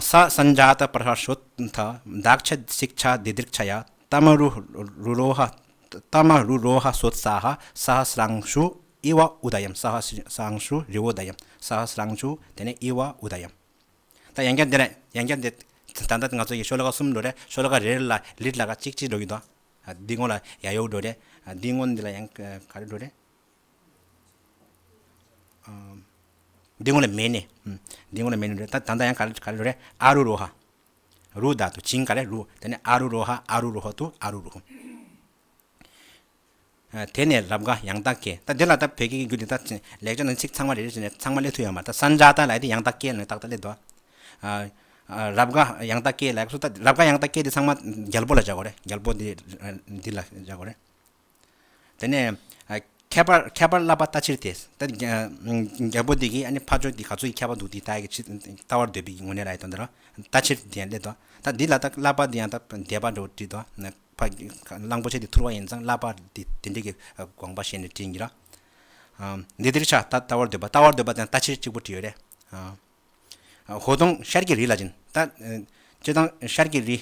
ས་སང་རྒྱ་དང་པར་ཧ་ཤོད་དྷ་བདག་ཆད་སིག་ཆ་བདེ་དིར་ཆ་ཡ་ཏཱ་མ་རུ་རུ་རོ་ཧ་ཏཱ་མ་རུ་རོ་ཧ་སོད་སྭ་ཧ་སྭ་ཧ་སཱང་ཤུ་ཨི་བ་ཨུ་དཱ་ཡམ་སྭ་ཧ་སཱང་ཤུ་རི་བོ་དཱ་ཡམ་སྭ་ཧ་སཱང་ཤུ་དེ་ནས་ཨི་བ་ཨུ་དཱ་ཡམ། ད་ཡན་རྒྱ་འདི་རེད་ཡན་རྒྱ་འདི་ད་ལྟ་ང་ཚོ་ཡི་ཤོད་ཀ་གསུམ་འགྲོ་རེད་ཤོད་ཀ་རེ་རེ་ལ་ལིར་ལ་ཀ་གཅིག་གཅིག་འགྲོ་གི་འདུག་འདི་སྔོན་ལ་ཡ་ཡོ་འགྲོ་རེད་འདི་སྔོན་འདི་ལ་ཡང་ག་རེ་འགྲོ་རེད། འདི་ངོ་ལ་མེད་ནི། འདི་ངོ་ལ་མེད་ནི། ད་ད་ནི་ཡང་ག་རེ་ག་རེ་རོ་རེད། ཨ་རུ་རུ་ཧ། རུ་དག་ཏུ་བྱིངས་ག་རེ་རུ། དེ་ནས་ཨ་རུ་རུ་ཧ་ཨ་རུ་རུ་ཧོ་ཏུ་ཨ་རུ་རུ་ཧོ། དེ་ནས་རབ་འགའ་ཡང་དག་སྐྱེ། ད་འདི་ལ་ད་བོད་སྐད་ཀྱི་འགྱུར་འདི་ད་ལེགས་སྦྱར་ན་ཚིག་ཚང་མ་རེ་རེ་བྱས་ནས་ཚང་མ་སླེབས་ཐུབ་ཡོད་མ་རེད། ད་སང་སྒྲ་ད་ལ་ཡི་དེ་ཡང་དག་སྐྱེ་ནི་ཏག་ཏག་སླེབས་འདུག་ཨ། རབ་འགའ་ཡང་དག་སྐྱེ་ལ་ཡག་སོ་ད་རབ་འགའ་ཡང་དག་སྐྱེ་འདི་ཚང་མ་རྒྱལ་པོ་ལ་བཞག་གོ་རེ་རྒྱལ་པོ་འདི་འདི་ལ་བཞག་གོ་རེ། དེ་ནས་ཁྱད་པར་ཁྱད་པར་བསླབ་པ་ལྟ་ཕྱིར་ཏེ། རྒྱལ་པོ་འདི་གིས་ཨ་ནི་ཕ་ཅོག་འདི་ག་ཚོད་ཀྱིས་ཁྱད་པར་འདུག་འདི་ལྟ་ཡི་ལྟ་བར་འདོད་པའི་ངོ་ནས་ར་ཡི་དོན་དུ་ལྟ་ཕྱིར་དེ་ཡང་སླད་དོ། ད་འདི་ལ་ད་བསླབ་པ་འདི་ཡང་ད་འདས་པ་འདྲ་བོ་དྲིས་དོ། གླང་པོ་ཆེ་འདི་ཐུར་བ་ཡིན་ཙང་བསླབ་པ་འདི་དེ་འདྲའི་གི་དགོངས་པ་ཞེས་ནས་དྲིས་ཀྱིས་ལ། འདི་འདིར་ཆགས་ད་ལྟ་བར་འདོད་པ་ལྟ་བར་འདོད་པ་དེ་ཡང་ལྟ་ཕྱིར་གཅིག་པོ་དྲིས་ཡོད་རེ། ཧོ། དང་ཤར་གྱི་རི་ལ་སྦྱིན། སྤྱི་དང། ཤར་གྱི་རི།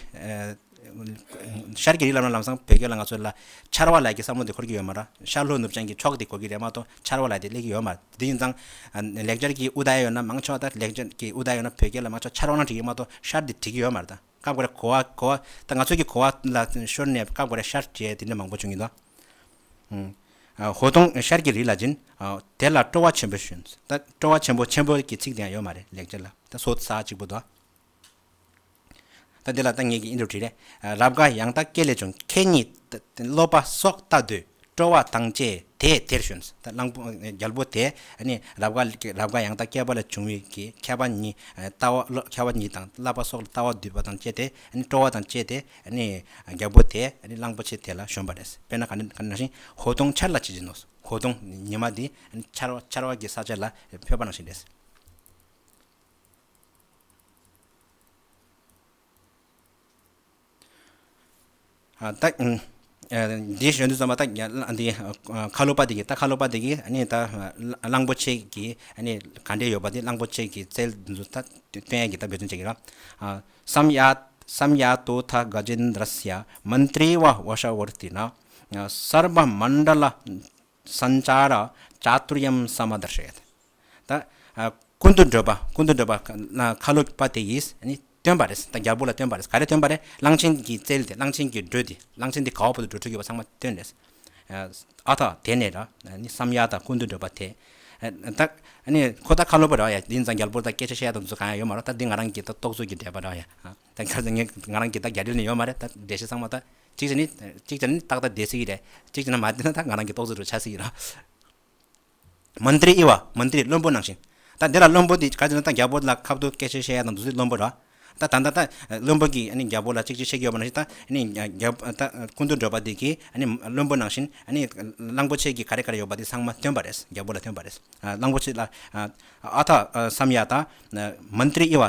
ཤར་གྱི་རི་ལབ་ན་ལམ་སང་བོད་སྐད་ལ་ང་ཚོ་ལ། ཆར་བ་ལ་ཀྱི་བསམ་བློ་དེ་འཁོར་གྱི་ཡོད་མ་ར། ཤར་ལྷོ་ནུབ་བྱང་གི་ཕྱོགས་དེ་གོ་གི་རེད་མ་ཏོག་ཆར་བ་ལ་དེ་གླེགས་ཀྱི་ཡོད་མ་ར། དེ་ཡིན་ཙང། ལེགས་སྦྱར་གྱི་ཨུ་དཱ་ཡ་ཡོད་ན་མང་ཆོག་ད་ལེགས་སྦྱར་གྱི་ཨུ་དཱ་ཡ་ཡོད་ན་བོད་སྐད་ལ་མང་ཆོག་ཆར་བ་ན་བྲིས་ཀྱི་མ་ཏོག་ཤར་དེ་བྲིས་ཀྱི་ཡོད་མ་ར་ད། སྐབས་འགར་གོ་བ་གོ་བ་ད་ང་ཚོས་ཀྱི་གོ་བ་ལ་ཤོར་ནས་སྐབས་འགར་ཤར་བཅས་དེ་འདྲ་མང་པོ་བྱུང་ཡོད་དོ། ཧོ་དོང་ཤར་གྱི་རི་ལ་སྦྱིན། དེ་ལ་སྤྲོ་བ་ཆེན་པོས་ཞུན། ད་སྤྲོ་བ་ཆེན་པོ་ཆེན་པོ་གྱི་ཚིག་དེ་ཡང་ཡོད་མ་རེད་ལེགས་སྦྱར་ལ་ད་སོ་ས་གཅིག་པོ་དོ། ད་འདི་ལ་ད་ངེད་ཀྱིས་ཨིན་དུ་བྲིས་རེད། རབ་དགའ་ཡང་དག་སྐད་ལས་བྱུང་ཁྱེད་ཉིད་སློབ་པ་སོགས་ལྟ་འདོད། སྤྲོ་བ་དང་བཅས་དེས་དེར་ཞོན། གླང་པོ་རྒྱལ་པོ་དེས་རབ་དགའ་ཡང་དག་སྐྱེས་པ་ལས་བྱུང་བའི་ཁྱད་པར་ཉིད་དང་བསླབ་པ་སོགས་ལ་ལྟ་བ་བསྡུས་པ་དང་བཅས་ཏེ་སྤྲོ་བ་དང་བཅས་ཏེ་རྒྱལ་པོ་དེས་གླང་པོ་ཆེ་དེ་ལ་ཞོན་པ་རེད། དཔེར་ན་གང་ནང་བཞིན་ཧོ་སྡོང་ཆར་ལ་བྱེད་ཅེས་ནོ། ཧོ་སྡོང་ཉི་མ་དེ་ཆར་བ་གྱི་ས་ཆ་ལ་འཕོས་པ་ནང་བཞིན་རེད། དེའི་གཞོན་ནུ་རྩོམ་པ་སྟག་ཁ་ལོ་པ་དེ་གིས་སྟག་ཁ་ལོ་པ་དེ་གིས་ད་གླང་པོ་ཆེ་གི་ག་འདྲེ་ཡོད་པ་དེ་གླང་པོ་ཆེ་གི་རྩལ་འདུལ་ད་སྟོན་ཡ་གི་ད་འབད་བརྩོན་བྱེད་ཀྱི་ར། སམ་ཡ་ཏུ་ཐ་ག་ཇེ་ནྡྲ་སྱ་མན་ཏྲི་བ་བྷ་ཤ་བོར་ཏི་ན། སརྦ་མན་ཏྲ་ལ་སན་ཅཱ་ར་ཅཱ་ཏུར་ཡམ་སཱ་མ་ཏྲ་ཧྲེ། ད་ཀུན་ཏུ་འགྲོད་པ་ཀུན་ཏུ་འགྲོད་པ་ཁ་ལོ་པ་དེ་གིས། སྟོན་པ་རེད། རྒྱལ་པོ་ལ་སྟོན་པ་རེད། ག་རེ་སྟོན་པ་རེད། གླང་ཆེན་གྱི་རྩལ་དེ་གླང་ཆེན་གྱི་འགྲོས་དེ་གླང་ཆེན་དེ་ག་བ་པོ་ལ་འགྲོས་འཁྲུལ་གྱི་བ་ཚང་མ་སྟོན་རེད། ཨ་ཐ་དེ་ནས་ར་ནི་བསམ་ཡ་དང་ཀུན་ཏུ་འགྲོས་པ་དེ། ད་ནི་ཁོ་ད་ཁ་ལོ་པ་ར་ཡ་འདི་ནི་ད་རྒྱལ་པོ་ད་སྐད་ཆ་བཤད་ད་འཛུ་གང་ཡང་ཡོད་མ་རོ་ད་འདི་ང་རང་གི་ད་རྟོག་བཟོ་གྱི་འགྲས་པ་ར་ཡ། ད་ག་ཟེ་ངས་ང་རང་གི་ད་རྒྱ་འགྲེལ་ནི་ཡོད་མ་རེད་ད་འགྲེལ་བཤད་ཚང་མ་ད་གཅིག་བྱས་ནི་གཅིག་བྱས་ནི་ཏག་ཏག་བསྡད་སྲིད་ཀྱི་རེད་གཅིག་བྱས་ན་མ་བསྡད་ན་ད་ང་རང་གི་རྟོག་བཟོ་རུ་ཆགས་སྲིད་ཀྱི་ར། མ་འདིར་དབྱེ་བ་མ་འདིར་བློན་པོ་ནང་བཞིན། ད་འདི་ལ་བློན་པོ་འདི་ག་ཅིག་ན་ད་རྒྱལ་པོ་ལ་ཁབ་ཏུ་སྐད་ཆ་བཤད་ཡ་དང་འདུག་ཚུལ་བློན་པོ་ར། ད་ད་ད་ད་བློན་པོ་གིས་རྒྱལ་པོ་ལ་ཅིག་ཅིག་བཤད་ཀྱི་ཡོད་པ་ནང་བཞིན་ད་ནི་རྒྱལ་པོ་ད་ཀུན་ཏུ་འགྲོ་པ་འདི་གིས་བློན་པོ་ནང་བཞིན་གླང་པོ་ཆེ་གིས་ག་རེ་ག་རེ་ཡོད་པ་འདི་ཚང་མ་ཐོན་པ་རེད་རྒྱལ་པོ་ལ་ཐོན་པ་རེད་གླང་པོ་ཆེ་ལ་ཨ་ཐ་བསམ་ཡ་དང་མ་འདིར་དབྱེ་བ་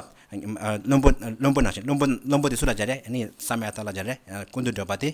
བློན་པོ་བློན་པོ་ནང་བཞིན་བློན་པོ་བློན་པོ་འདི་སུ་ལ་སྦྱར་རེད་བསམ་ཡ་ད་ལ་སྦྱར་རེད་ཀུན་ཏུ་འགྲོ་པ་དེ།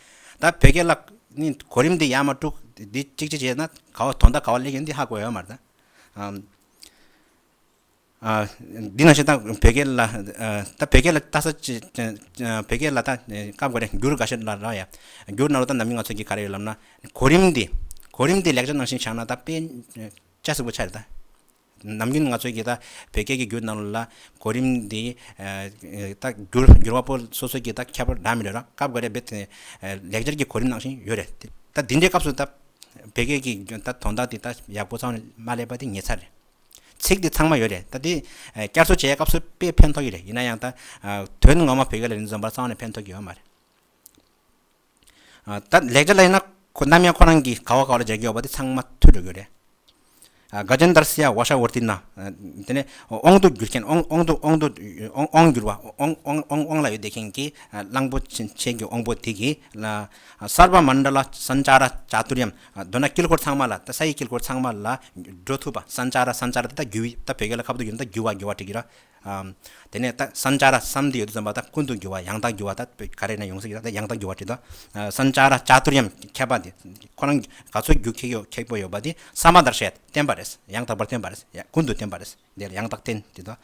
ད་བོད་རྒྱལ་ལ་ནི་གོ་རིམ་འདི་ཡང་མ་དཀྲུག་འདི་གཅིག་ཅིག་བྱས་ན་ག་བ་དོ་ཟླ་ག་བ་ལེགས་ཡོད་འདི་ཧ་གོ་ཡོད་མ་རེད། འདི་ནང་བཞིན་ད་བོད་རྒྱལ་ལ་ད་བོད་རྒྱལ་ལ་ལྟ་ས་ཅི་བོད་རྒྱལ་ལ་ད་བཀའ་བསྒོ་རེ་འགྱུར་ག་ཤེད་ལ་རག་ཡ་འགྱུར་གནང་རོགས་ད་ནམ་རྒྱུན་ང་ཚོ་གི་ག་རེ་ཡོད་ལབ་ན་གོ་རིམ་འདི་གོ་རིམ་འདི་ལེགས་ཆ་གནང་བཞིན་བཞག་ན་ད་དཔེ་ཆ་གཟིགས་པོ་ཆགས་རེད་ད། ནམ་རྒྱུན་ང་ཚོའི་གི་ད་བོད་སྐད་ཀྱི་འགྱུར་རྣམས་ལ་གོ་རིམ་འདི་ད་འགྱུར་འགྱུར་བ་པོ་སོ་སོའི་གི་ད་ཁྱད་པར་འདྲ་མི་འདྲ་ར་སྐབས་འགའ་རེ་བོད་དེ་ལེགས་སྦྱར་གྱི་གོ་རིམ་ནང་བཞིན་ཡོད་རེད་ད་འདི་འདྲའི་སྐབས་སུ་ད་བོད་སྐད་ཀྱི་ད་དོན་དག་འདི་ད་ཡག་པོ་ཚང་མ་སླེབས་པ་འདི་ངེད་ཚ་རེད། ཚིག་འདི་ཚང་མ་ཡོད་རེད་ད་འདི་བསྐྱར་བཟོ་བྱས་སྐབས་སུ་དཔེ་ཕན་ཐོགས་ཀྱི་རེད་ཡིན་ན་ཡང་ད་དོན་ངོ་མ་བོད་སྐད་ལ་ནི་འཛོམས་པ་ཚང་མ་ནི་ཕན་ཐོགས་ཀྱི་ཡོད་མ་རེད། ད་ལས་ཀ་ལས་ན་ནམ་ཡང་ཁོ་རང་གིས་ག་བ་ག་བ་ལ་རྒྱག་གི་ཡོག་པ་དེ་ཚང་མ་ཐུལ་འགྲོ་གི་ཡོག་རེད། དགའ་ལྗོན་དར་སི་ཡ་བྷ་ཤ་བྷོར་ཏི་ན། དེ་ནས་ཨོང་དུ་འགྱུར་མཁན་ཨོང་དུ་ཨོང་དུ་ཨོང་འགྱུར་བ་ཨོང་ཨོང་ཨོང་ཨོང་ལ་ཡོད་བསྡད་མཁན་གྱི་གླང་པོ་ཆེན་གྱི་ཨོང་པོ་དེ་གིས་ལ་སར་བ་མན་དྲ་ལ་སན་ཅཱ་ར་ཅཱ་ཏུར་ཡམ་མདོར་ན་དཀྱིལ་འཁོར་ཚང་མ་ལ་ད་ས་ཡི་དཀྱིལ་འཁོར་ཚང་མ་ལ་འགྲོ་ཐུབ་པ་སན་ཅཱ་ར་སན་ཅཱ་ར་དེ་ད་རྒྱུ་ད་བོད་སྐད་ལ་ཁ་བུ་དུ་གྱུར་ན་ད་རྒྱུ་བ་རྒྱུ་བ་བྲི་གི་ར་དེ་ནས་ད་སན་ཅཱ་ར་བསམ་གཏན་ཡོད་དོ་ཙམ་པ་ད་ཀུན་ཏུ་འགྱུར་བ་ཡང་དག་འགྱུར་བ་ད་ག་རེ་ན་ཡོང་ས་ཡིན་ན་ད་ཡང་དག་འགྱུར་བ་བྲིས་ཏོ། སན་ཅཱ་ར་ཅཱ་ཏུར་ཡམ་ཁྱད་པར་འདི་ཁོ་རང་ག་ཚོད་རྒྱུ་ཁེགས་ཡོད་ཁེགས་པོ་ཡོད་པ་འདི་ས་མ་དར་ཤད་བསྟན་པ་རེད་ཡང་དག་པར་བསྟན་པ་རེད་ཀུན་ཏུ་བསྟན་པ་རེད་འདི་ཡང་དག་བསྟན་བྲིས་ཏོ།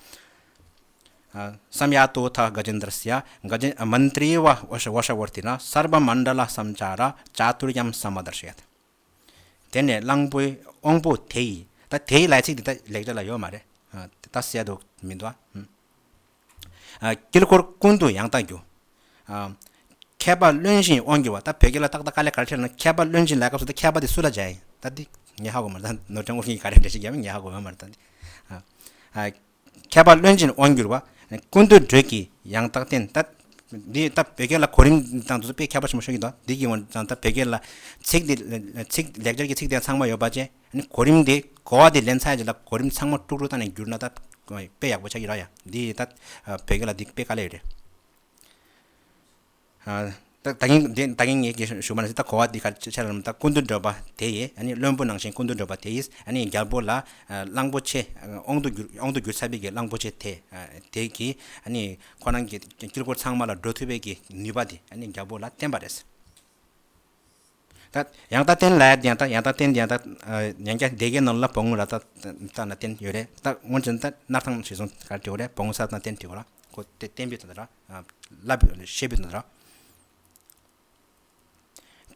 སམ་ཡ་ཏུ་ཐ་ག་ཇན་དར་སི་ཡ་ག་ཇན་མན་ཏྲི་ཝ་ཝོ་ཤ་ཝོ་ཤ་ཝོར་ཏི་ན་སརྦ་མན་དྲ་ལ་སམ་ཅཱ་ར་ཅཱ་ཏུར་ཡམ་ས་མ་དར་ཤད། དེ་ནས་གླང་པོའི་དབང་པོ་དེ་ཡིས། ད་དེ་ཡི་ལས་ཚིག་འདི་ད་ལེགས་སྒྲ་ལ་ཡོད་མ་རེད། ད་གསལ་འདུག་མི་འདུག་ཨ། དཀྱིལ་འཁོར་ཀུན་ཏུ་ཡང་དག་རྒྱུ། མཁས་པ་བླུན་བཞིན་དབང་བསྒྱུར་བ། ད་བོད་སྐད་ལ་ཏག་ཏག་དཀའ་ལས་ག་རེ་ཁྲེལ་ན། མཁས་པ་བླུན་བཞིན་ལས་སྐབས་སུ་ད་མཁས་པ་དེ་སུ་ལ་སྦྱར་ཡིན། ད་འདི་ཉལ་ཧ་གོ་མ་རེད། ནོར་བྱང་དབུར་ཤིང་གི་ག་རེ་འབྲི་ཤིག་རྒྱབ་ནས་ཉལ་ཧ་གོ་ཡོད་མ་རེད། ཁྱད་པར་བློན་ཆེན་དབང་སྒྱུར་བ། ཀུན་འདུས་སྒྲོལ་གྱིས་ཡང་དག་བསྟན། འདི་ལྟ་བུའི་བོད་སྐད་ལ་གོ་རིམ་དང་དུ་དཔེ་ཁྱད་པར་ཆེན་པོ་ཤོད་ཀྱི་འདུག་འདི་ཡིན་ཡང་ད་ལྟ་བོད་སྐད་ལ་ཚིག་འདི་ལེགས་སྦྱར་གྱི་ཚིག་དེ་ཚང་མ་ཡོད་པ་བཅས་གོ་རིམ་དེ་གོ་བ་དེ་ལེན་ཚར་རྗེས་ལ་གོ་རིམ་ཚང་མ་དཀྲུག་དཀྲུག་བཏང་ནས་བསྒྱུར་ན་ད་དཔེ་ཡག་པོ་ཆགས་ཀྱི་ར་ཡ་འདི་ལྟ་བུའི་བོད་སྐད་ལ་འདི་དཔེ་དཀའ་ལས་ཡོད་རེད། ད་གིན་ངས་ད་གིན་ངས་ཀྱི་ཞུ་མ་ལ་ད་གོ་བ་འདི་གར་ཆ་རམ་ད་ཀུན་ཏུ་འགྲོ་པ་དེ་ཡིས་ཨ་ནི་བློན་པོ་ནང་བཞིན་ཀུན་ཏུ་འགྲོ་པ་དེ་ཡིས་ཨ་ནི་རྒྱལ་པོ་ལ་གླང་པོ་ཆེ་ཨོང་དུ་གྱུར་ཨོང་དུ་གྱུར་ཚར་བས་ཀྱི་གླང་པོ་ཆེ་དེ་དེ་ཀྱིས་ཨ་ནི་ཁོ་རང་གི་དཀྱིལ་འཁོར་ཚང་མ་ལ་འགྲོ་ཐུབ་བས་ཀྱི་ནུས་པ་དེ་ཨ་ནི་རྒྱལ་པོ་ལ་བསྟན་པ་རེད། ད་ཡང་ད་བསྟན་ལ་ཡང་ད་ཡང་ད་བསྟན་ཡང་ད་ཡང་བསྐྱར་སྡེ་དགེ་ནང་ལ་བོང་ར་ད་ད་ན་བསྟན་ཡོད་རེད་ད་སྔོན་ཆད་ད་སྣར་ཐང་ཞེས་སོང་ག་དྲི་བ་རེད་བོང་ས་ད་ན་བསྟན་དྲི་བ་ར་ཁོ་དེ་བསྟན་བུད་དོ་ད་ར་བསླབ་བུད་བཤད་བུད་དོ་ད་ར།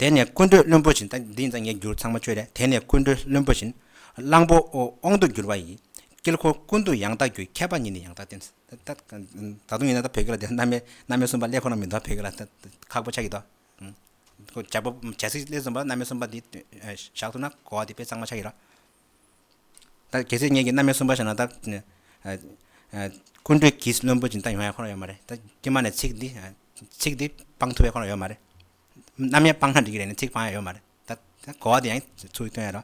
དེ་ནས་ཀུན་གྲོལ་བློན་པོ་བཞིན་ད་འདི་ཡིན་ད་ངས་བསྒྱུར་ཚང་མ་བཅོས་རེད་དེ་ནས་ཀུན་གྲོལ་བློན་པོ་བཞིན་གླང་པོ་དབང་དུ་བསྒྱུར་བ་ཡིན་དཀྱིལ་འཁོར་ཀུན་ཏུ་ཡང་དག་རྒྱུའི་ཁྱད་པར་ཉིད་ནི་ཡང་དག་བསྟན་ད་ད་དུང་ཡིན་ན་ད་བོད་སྐད་ལ་དེ་རྣམ་སྨིན་སྣ་སྨིན་གསུམ་པ་ཀླད་ཁོ་ན་མི་འདུག་བོད་སྐད་ལ་ད་ཁག་པོ་ཆགས་ཀྱི་འདུག་བྱ་སྤུ་བྱ་ཚིག་གླེགས་འཛོམས་པ་རྣམ་དབྱེ་གསུམ་པ་འདི་བཞག་ཐུབ་ན་གོ་བ་འདི་དཔེ་གཙང་མ་ཆགས་ཡོད་ལ། ད་གལ་སྲིད་ངེད་ཀྱིས་རྣམ་དབྱེ་གསུམ་པ་བཞག་ན་ད། ཀུན་བཏུས་ཀྱིས་བླུན་པོ་སྦྱིན་བདག་ཡོང་ཡ་ཁོ་ན་ཡོད་མ་རེད་ད་ཀྱེ་མ་ནས་ཚིག་འདི་ཚིག་འདི་སྤང་ཐུབ་ཡ་ཁོ་ན་ཡོད་མ་རེད། རྣམ་དབྱེ་སྤང་ན་འགྲིག་གི་རེད་ནི་ཚིག་སྤང་ཡ་ཡོད་མ་རེད་ད་གོ་བ་འདི་ཡང་ཚུར་བཏོན་ཡོད་ལ།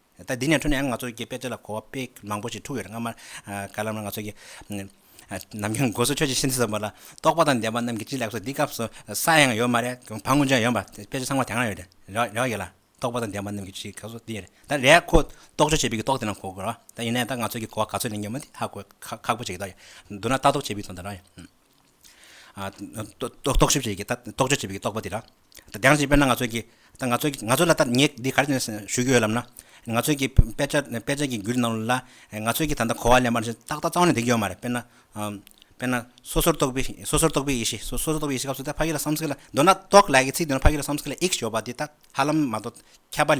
ད་འདི་ནས་འཕྲོས་ནས་ཡང་ང་ཚོ་གི་དཔེ་ཚོད་ལ་གོ་བ་དཔེ་མང་པོ་ཞིག་འཁྲུགས་ཡོད་རེད་སྔ་མ་ག་ལ་ལ་ང་ཚོ་གི་ནམ་རྒྱུན་སྒོ་ཟོག་ཆོས་ཀྱི་ཤིང་རྩི་ཟེར་བ་ལ་རྟོག་པ་དང་ལྡན་པ་རྣམས་ཀྱིས་ཅི་ལེགས་སོ་འདི་སྐབས་སུ་ས་ཡང་ཡོད་མ་རེད་བང་ཀུན་ཆོས་ཡང་ཡོད་མ་དཔེ་ཚོད་ཚང་མ་དེ་སྔ་ཡོད་རེད་རེ་བ་ཡོད་ལ་རྟོག་པ་དང་ལྡན་པ་རྣམས་ཀྱིས་ཅི་ག་སོ་འདི་ཡོད་རེད་ད་རེད་ཁོ་རྟོག་དཔྱོད་བྱེད་པའི་རྟོག་དེ་རྣམས་གོ་དགོས་རེད་ཡིན་ནའི་ད་ང་ཚོ་གི་གོ་བ་ག་ཚོད་ནས་ཉོན་མོད་ཧ་གོ་ཁག་པོ་བྱེད་ཀྱི་རེད་འདུག་ན་ལྟ་རྟོག་བྱེད་པའི་དོན་དུ་རེད་རྟོག་ཞིབ་བྱེད་ཀྱི་རྟོག་དཔྱོད་བྱེད་པའི་རྟོག་པ་དེ་རེད། དེང་སྤྱིར་དཔེར་ན་ང་ཚོས་ཀྱི་ད་ང་ཚོས་ང་ཚོས་ལ་ད་ངས་འདི་ག་རེ་ཞུ་གི་ཡོད་ལབ་ན། ང་ཚོས་ཀྱི་དཔེ་ཆ་དཔེ་ཆ་གི་འགུལ་ནང་ལ་ང་ཚོས་ཀྱི་ད་ལྟ་གོ་བ་ལེན་པ་ནི་ཏག་ཏག་གཙང་མ་ནས་འདེགས་ཀྱི་ཡོད་མ་རེད། དཔེར་ན་དཔེར་ན་སོ་སོར་རྟོག་པའི་སོ་སོར་རྟོག་པའི་ཡེ་ཤེས་སོ་སོར་རྟོག་པའི་ཡེ་ཤེས་སྐབས་སུ་ད་ཕ་ཡུལ་ལ་བསམ་གཟིགས་ལ་མདོར་ན་རྟོག་ལས་ཀྱི་ཚིག་དེ་ཕ་ཡུལ་ལ་བསམ་གཟིགས་ལ་ཨིག་ཞོགས་པ་དེ་ད་ཧ་ལམ་མ་གཏོགས་ཁྱད་པར་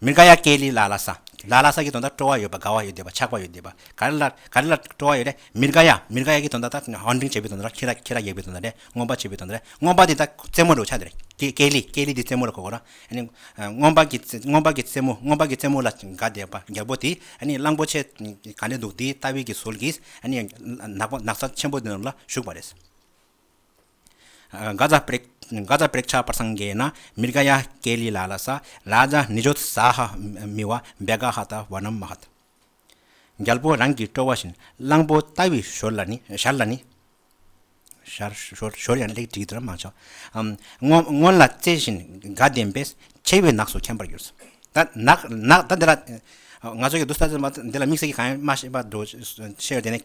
མི་དགའ་ཡ་སྐད་ལི་ལ་ལ་ས། ལ་ལ་ས་ཀྱི་དོན་དག་སྤྲོ་བ་ཡོད་པ་དགའ་བ་ཡོད་འདོད་པ་ཆགས་པ་ཡོད་འདོད་པ་ག་རེ་ལ་ག་རེ་ལ་སྤྲོ་བ་ཡོད་རེད་མི་དགའ་ཡ་མི་དགའ་ཡ་ཀྱི་དོན་དག་དང་ཨོ་འབྲིང་བྱེད་པའི་དོན་དག་ཁྱི་ར་ཁྱི་ར་གཡག་པའི་དོན་དག་རེད་རྔོན་པ་བྱེད་པའི་དོན་དག་རེད་རྔོན་པ་དེ་དག་རྩེད་མོ་རེད་བ་ཆགས་འདི་རེད་ཀྱི་སྐད་ལི་སྐད་ལི་དེ་རྩེད་མོ་རེད་གོ་གོ་ར་ཨ་ནི་རྔོན་པ་ཀྱི་རྔོན་པ་ཀྱི་རྩེད་མོ་རྔོན་པ་ཀྱི་རྩེད་མོ་ལ་དགའ་འདོད་པ་རྒྱལ་པོ་དེ་ཨ་ནི་གླང་པོ་ཆེ་ག་འདྲས་འདུག་དེའི་ལྟ་བའི་ཀྱི་ཟོལ་གྱིས་ཨ་ནི་ནག་པོ་ནག་ས་ཆེན་པོ་དེ་རྣམས་ལ་ཞུགས་པ་རེད། གཟའ་བརེགས་ཆགས་པར་སངས་རྒྱས་ན་མི་རྒ་ཡ་ཀའི་ལི་ལ་ལ་ས་ལ་ཛ་ནི་ཇོ་ཏི་ཟ་ཧ་མི་བ་འབེ་ག་ཧ་ད་བ་ནམ་མ་ཧ་ད། རྒྱལ་པོ་རང་གིས་སྤྲོ་བ་བཞིན་གླང་པོ་ལྟ་བུའི་ཞོར་ལ་ནི་ཞར་ལ་ནི། ཞོར་ཡང་ལེགས་བྲིས་དེར་མ་ཆགས། སྔོན་ལ་རྩེ་བཞིན་དགའ་ལྡན་པས་མཆེ་བའི་ནགས་སུ་འཁྱམས་པར་གྱུར། ད་ནགས་ད་འདི་ལ་ང་ཚོ་ཡོད་དུ་ས་ཟིན་པ་འདི་ལ་དམིགས་བསལ་གྱི་གང་ཡང་མ་ཤེས་པར་འགྲོ་ཤེས་ཡོད་དེ་ནས།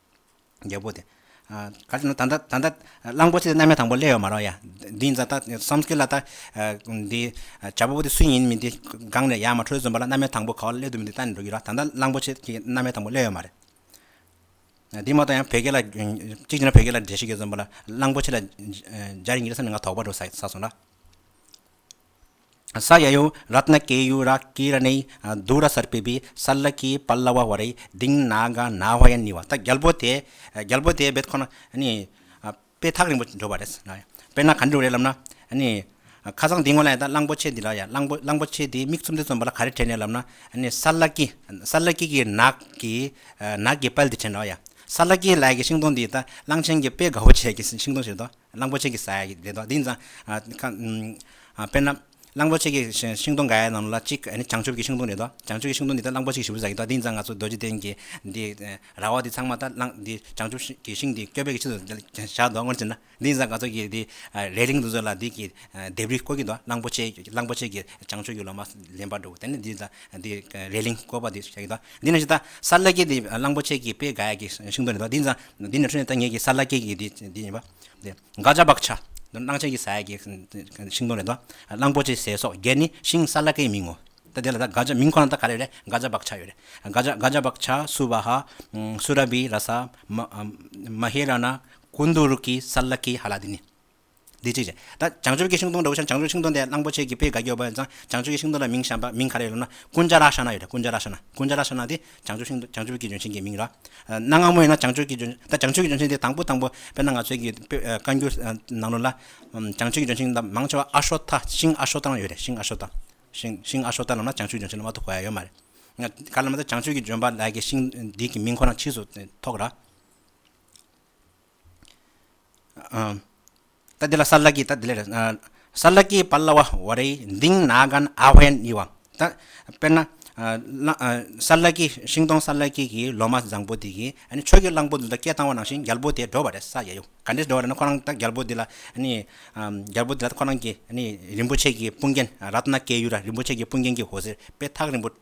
རྒྱལ་པོ་དེ། ག་ཅེ་ན་ད་ལྟ་ད་ལྟ་གླང་པོ་ཆེ་རྣམ་ཡ་དང་པོ་སླེ་ཡོད་མ་རོག་ཡ། འདི་ཡིན་ད་ལྟ་བསམ་ཁེལ་ལ་ད་འདི་བྱ་ཕོ་པོ་དེ་སུ་ཡིན་མིན་དེ་སྒང་ནས་ཡར་མ་འཕྲོས་ཟོན་པ་ལ་རྣམ་ཡ་དང་པོ་ག་བ་སླེ་འདུག་མིན་དེ་ལྟ་ནས་འགྲོ་གི་ར་ད་ལྟ་གླང་པོ་ཆེ་དེ་རྣམ་ཡ་དང་པོ་སླེ་ཡོད་མ་རེད། འདི་མ་གཏོགས་ཡང་བོད་སྐད་ལ་གཅིག་བྱས་ན་བོད་སྐད་ལ་འདྲེ་ཤིག་གེ་ཟོན་པ་ལ་གླང་པོ་ཆེ་ལ་སྦྱར་ཡིན་གི་ས་ནས་ང་དོག་པ་འགྲོ་ས་སོང་ར། ས་ཡ་ཡོ་རཏ་ན་ཀེ་ཡུ་ར་ཀི་ར་ནེ་དུ་ར་སར་པི་བི་སཱ་ལ་ཀི་པཱ་ལ་བ་བ་རེ་སྡིང་ན་ག་ན་བྷ་ཡ་ནི་བ་ད་རྒྱལ་པོ་དེས་རྒྱལ་པོ་དེས་བེད་ཁོ་ན་ནི་དཔེ་ཐག་རིང་པོ་འགྲོ་བ་རེད། དཔེར་ན་ག་འགྲོ་རེད་ལབ་ན་ནི་ཁ་སང་འདི་ངོ་ལ་ཡ་ད་གླང་པོ་ཆེ་འདི་ལ་ཡ་གླང་པོ་གླང་པོ་ཆེ་འདིའི་མིག་ཚུམ་འདི་ཚུམ་བ་ལ་ག་རེ་དྲན་རེད་ལབ་ན་ནི་སཱ་ལ་ཀི་སཱ་ལ་ཀི་ཀི་ནག་གི་ནག་གི་པལ་འདི་དྲན་རོགས་ཡ་སཱ་ལ་ཀི་ལའི་གི་ཤིང་སྡོང་འདི་ད་གླང་ཆེན་གི་དཔེ་དགའ་བོ་བྱས་ཀི་ཤིང་སྡོང་ཞིག་རེད་དོ། གླང་པོ་ཆེ་གི་ས་ཡ་ཡིག་འབྲེལ་དོ་འདི་ནི་དཔེར་ན། གླང་པོ་ཆེ་གི་ཤིང་སྡོང་འགའ་ཡི་ནང་ལ་གཅིག་བྱང་ཆུབ་ཀྱི་ཤིང་སྡོང་རེད་དོ། བྱང་ཆུབ་ཀྱི་ཤིང་སྡོང་འདི་དག་གླང་པོ་ཆེ་གི་ཞབས་སུ་ཟགས་ཀྱི་དོ་འདི་ནི་ང་ཚོ་རྡོ་རྗེ་གདན་གྱི་འདི་ར་བ་འདི་ཚང་མ་དག་འདི་བྱང་ཆུབ་ཀྱི་ཤིང་འདི་སྐྱོབ་པའི་ཆེད་དུ་བཞག་དོ་སྔོན་ཆད་ན་འདི་ནི་ང་ཚོ་གི་འདི་རའི་གླིང་དུ་ཚོད་ལ་འདི་གི་ལྡེབས་རིས་བཀོད་ཀྱི་དོ་གླང་པོ་ཆེ་གླང་པོ་ཆེ་གི་བྱང་ཆུབ་ཀྱི་ལོ་མ་ལེན་པར་འགྲོ་དེ་ནི་འདི་དང་འདི་རའི་གླིང་བཀོད་པ་འདི་བྱ་ཡི་དོ་འདི་ནི་ད་ས་ལེ་ཀའི་འདི་གླང་པོ་ཆེ་གི་དཔེ་འགའ་ཡི་གི་ཤིང་སྡོང་རེད་དོ་འདི་ནི་ཚང་འདི་ནི་ཁྲོས་ནས་ལྟ་ངེས་ཀྱི་ས་བླ་སྐྱེས་ཀྱི་དེ་ཡིན་པ། འགག་བྱ་བག་ཆ། སྣང་བྱེད་ཀྱི་ས་ཡ་ཀྱི་ཤིང་སྡོང་རེ་དོ། གླང་པོ་ཆེའི་ཟས་སོགས་བརྒྱད་ནི་ཤིང་ས་བླ་སྐྱེས་མིང་ངོ། ད་དེ་ལ་ད་འགག་བྱ་མིང་ཁོ་ན་ད་ག་རེ་རེད་འགག་བྱ་བག་ཆ་ཡོད་རེད། འགག་བྱ་བག་ཆ་སུ་བ་ཧ། སུ་ར་བི་ར་ས། མ་ཧེ་ར་ན། ཀུན་དུ་རུ་ཀི་ས་བླ་སྐྱེས་ཧ་ལ་དེ་ནི། འདི་གཅིག་བྱས། ད་བྱང་ཆུབ་ཀྱི་ཤིང་སྡོང་འདྲ་བོ་ཤར་བྱང་ཆུབ་ཀྱི་ཤིང་སྡོང་དེ་གླང་པོ་ཆེ་གི་ཕའི་དགའ་སྐྱོ་བ་ཡིན་ཙང་བྱང་ཆུབ་ཀྱི་ཤིང་སྡོང་ལ་མིང་བྱམས་པ་མིང་ག་རེ་ཡོད་ལབ་ན་ཀུན་བྱ་ར་ཤ་ན་ཡོད་རེད་ཀུན་བྱ་ར་ཤ་ན་ཀུན་བྱ་ར་ཤ་ན་དེ་བྱང་ཆུབ་ཤིང་སྡོང་བྱང་ཆུབ་ཀྱི་ལྗོན་ཤིང་གི་མིང་ར། གནའ་སྔ་མོ་ཡིན་ན་བྱང་ཆུབ་ཀྱི་ལྗོན་ད་བྱང་ཆུབ་ཀྱི་ལྗོན་ཤིང་དེ་དང་པོ་དང་པོ་དཔེར་ན་ང་ཚོའི་གི་དཔེ་བཀའ་འགྱུར་ནང་ལོ་ལ་བྱང་ཆུབ་ཀྱི་ལྗོན་ཤིང་ལབ་མང་ཆེ་བ་ཨ་ཤོ་ཐ་ཤིང་ཨ་ཤོ་ཐ་ན་ཡོད་རེད་ཤིང་ཨ་ཤོ་ཐ། ཤིང་ཤིང་ཨ་ཤོ་ཐ་ལབ་ན་བྱང་ཆུབ་ཀྱི་ལྗོན་ཤིང་ལ་མ་ཐུག་གོ་ཡ་ཡོད་མ་རེད། ག་ལ་ལབ་ན་བྱང་ཆུབ་ཀྱི་ལྗོན་པ་ལགས་ཀྱི་ཤིང་འདི་གི་མིང་ཁོ་རང་ཕྱིས་སུ་ཐོགས་ར། ད་དེ་ལ་སཱ་ལ་ཀི་ད་དེ་ལས་སཱ་ལ་ཀི་པཱ་ལ་བ་བ་རའི་མདིང་ནཱ་གཱན་ཨ་བྷན་ཡི་བ་ད་དཔེར་ན་སཱ་ལ་ཀི་ཤིང་སྡོང་སཱ་ལ་ཀི་གི་ལོ་མ་བཟང་པོ་དེ་གིས་ཆོས་ཀྱི་གླང་པོ་འདི་དག་སྐད་བཏང་བ་ནང་བཞིན་རྒྱལ་པོ་དེ་འགྲོ་བ་རེད་ས་ཡ་ཡོ་ག་འདྲེས་འགྲོ་བ་རེད་ན་ཁོ་རང་ད་རྒྱལ་པོ་འདི་ལ་རྒྱལ་པོ་འདི་ལ་ཁོ་རང་གི་རིན་པོ་ཆེ་གི་དཔུང་རྒྱན་རཏྣ་སྐྱེས་ཡུལ་ར་རིན་པོ་ཆེ་གི་དཔུང་རྒྱན་གྱི་འོད་ཟེར་དཔལ་ཐག་རིང་པོ་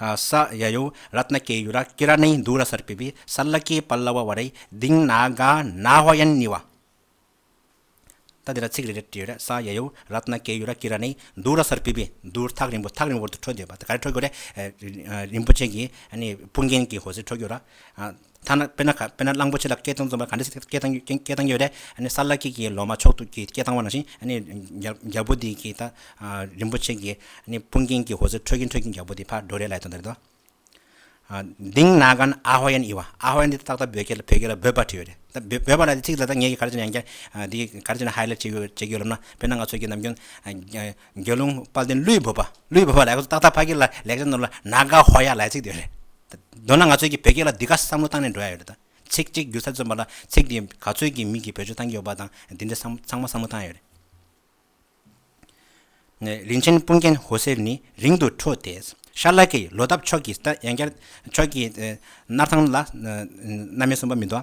ས་ཡ་ཡོ་ར་ཏནཱ་ཀེ་ཡུ་ར་ཀི་ར་ནའི་འདུ་ར་སར་སྤེལ་བའི་ས་ལ་ཀེ་པ་ལ་བ་བ་རའི་སྡིངས་ན་ག་ན་བྷ་ཡན་ནི་བ། ད་འདི་ལ་ཚིག་རེ་རེ་བྲིས་ཡོད་རེད་ས་ཡ་ཡོ་ར་ཏནཱ་ཀེ་ཡུ་ར་ཀི་ར་ནའི་འདུ་ར་སར་སྤེལ་བའི་འདུ་ཐག་རིང་པོ་ཐག་རིང་བོར་དུ་འཕྲོ་འདོད་པ་དེ་ག་རེ་འཕྲོ་རྒྱུ་རེད་རིན་པོ་ཆེ་གིས་སྤུན་རྒན་གྱིས་ཧོ་ཟེར་འཕྲོ་རྒྱུ་ར། ཐ་ན་དཔེར་ན་གླང་པོ་ཆེ་ལ་སྐད་གཏོང་རྩོམ་པ་ག་འདྲ་ཞིག་སྐད་གཏོང་གི་ཡོད་རེད། གསར་ལ་སྐྱེས་ཀྱི་ལོ་མ་མཆོག་ཏུ་ཀྱི་སྐད་གཏང་བ་ནང་བཞིན་རྒྱལ་པོ་འདི་ཀྱི་རིན་པོ་ཆེ་གི་དཔུང་རྒྱན་གྱི་ཧོ་ཟེར་འཕྲོད་ཀྱིན་འཕྲོད་ཀྱིན་རྒྱལ་པོ་འདི་ཕར་འགྲོ་རེ་ལ་ཡི་དོན་དར་རེད་དོ། དིང་ནག་ག་ན་ཨ་ཧོ་ཡན་ཨི་བ་ཨ་ཧོ་ཡན་འདི་ཏག་ཏག་བོད་སྐད་ལ་འབོད་པར་བྲིས་ཡོད་རེད། འབོད་པ་ལ་ཚིག་ལ་ད་ངས་ག་རེ་བྱས་ན་ཡང་བསྐྱར་ག་རེ་བྱས་ན་ཧའི་ལེ་བྱེད་ཀྱི་ཡོད་ལབ་ན་དཔེར་ན་ང་ཚོ་ཀྱི་ནམ་རྒྱུན་དགེ་སློང་དཔའ་བརྟན་ཀླུའི་བུ། ཀླུའི་བུ་ལ་ལེགས་སོ་ཏག་ཏག་ཕ་གི་ལེགས་སྦྱར་ནོར་ལ་ན་ག་ཧོ་ཡ་ལའི་ཚིག་དེ་རེད། མདོར་ན་ང་ཚོས་ཀྱི་བོད་སྐད་ལ་འདི་ག་བསམ་བློ་བཏང་ནས་འགྲོ་ཡ་ཡོད་རེད་ད། ཚིག་གཅིག་བསྒྱུར་ཚར་བརྩོན་པ་ལ་ཚིག་དེ་ག་ཚོད་ཀྱི་མིང་གི་བེད་སྤྱོད་བཏང་གི་ཡོད་པ་དང་དེ་འདྲའི་ཚང་མ་བསམ་བློ་བཏང་ཡོད་རེད། རིན་ཆེན་སྤུངས་རྒྱན་ཧོ་སེར་ནི་རིང་དུ་འཕྲོ་དེ། ཤར་ལྷ་ཀྱི་ལོ་འདབ་ཕྱོགས་ཀྱི་ཡང་བསྐྱར། ཕྱོགས་ཀྱི་སྣར་ཐང་ལ་རྣམ་སྨིན་གསུམ་པ་མི་འདོ།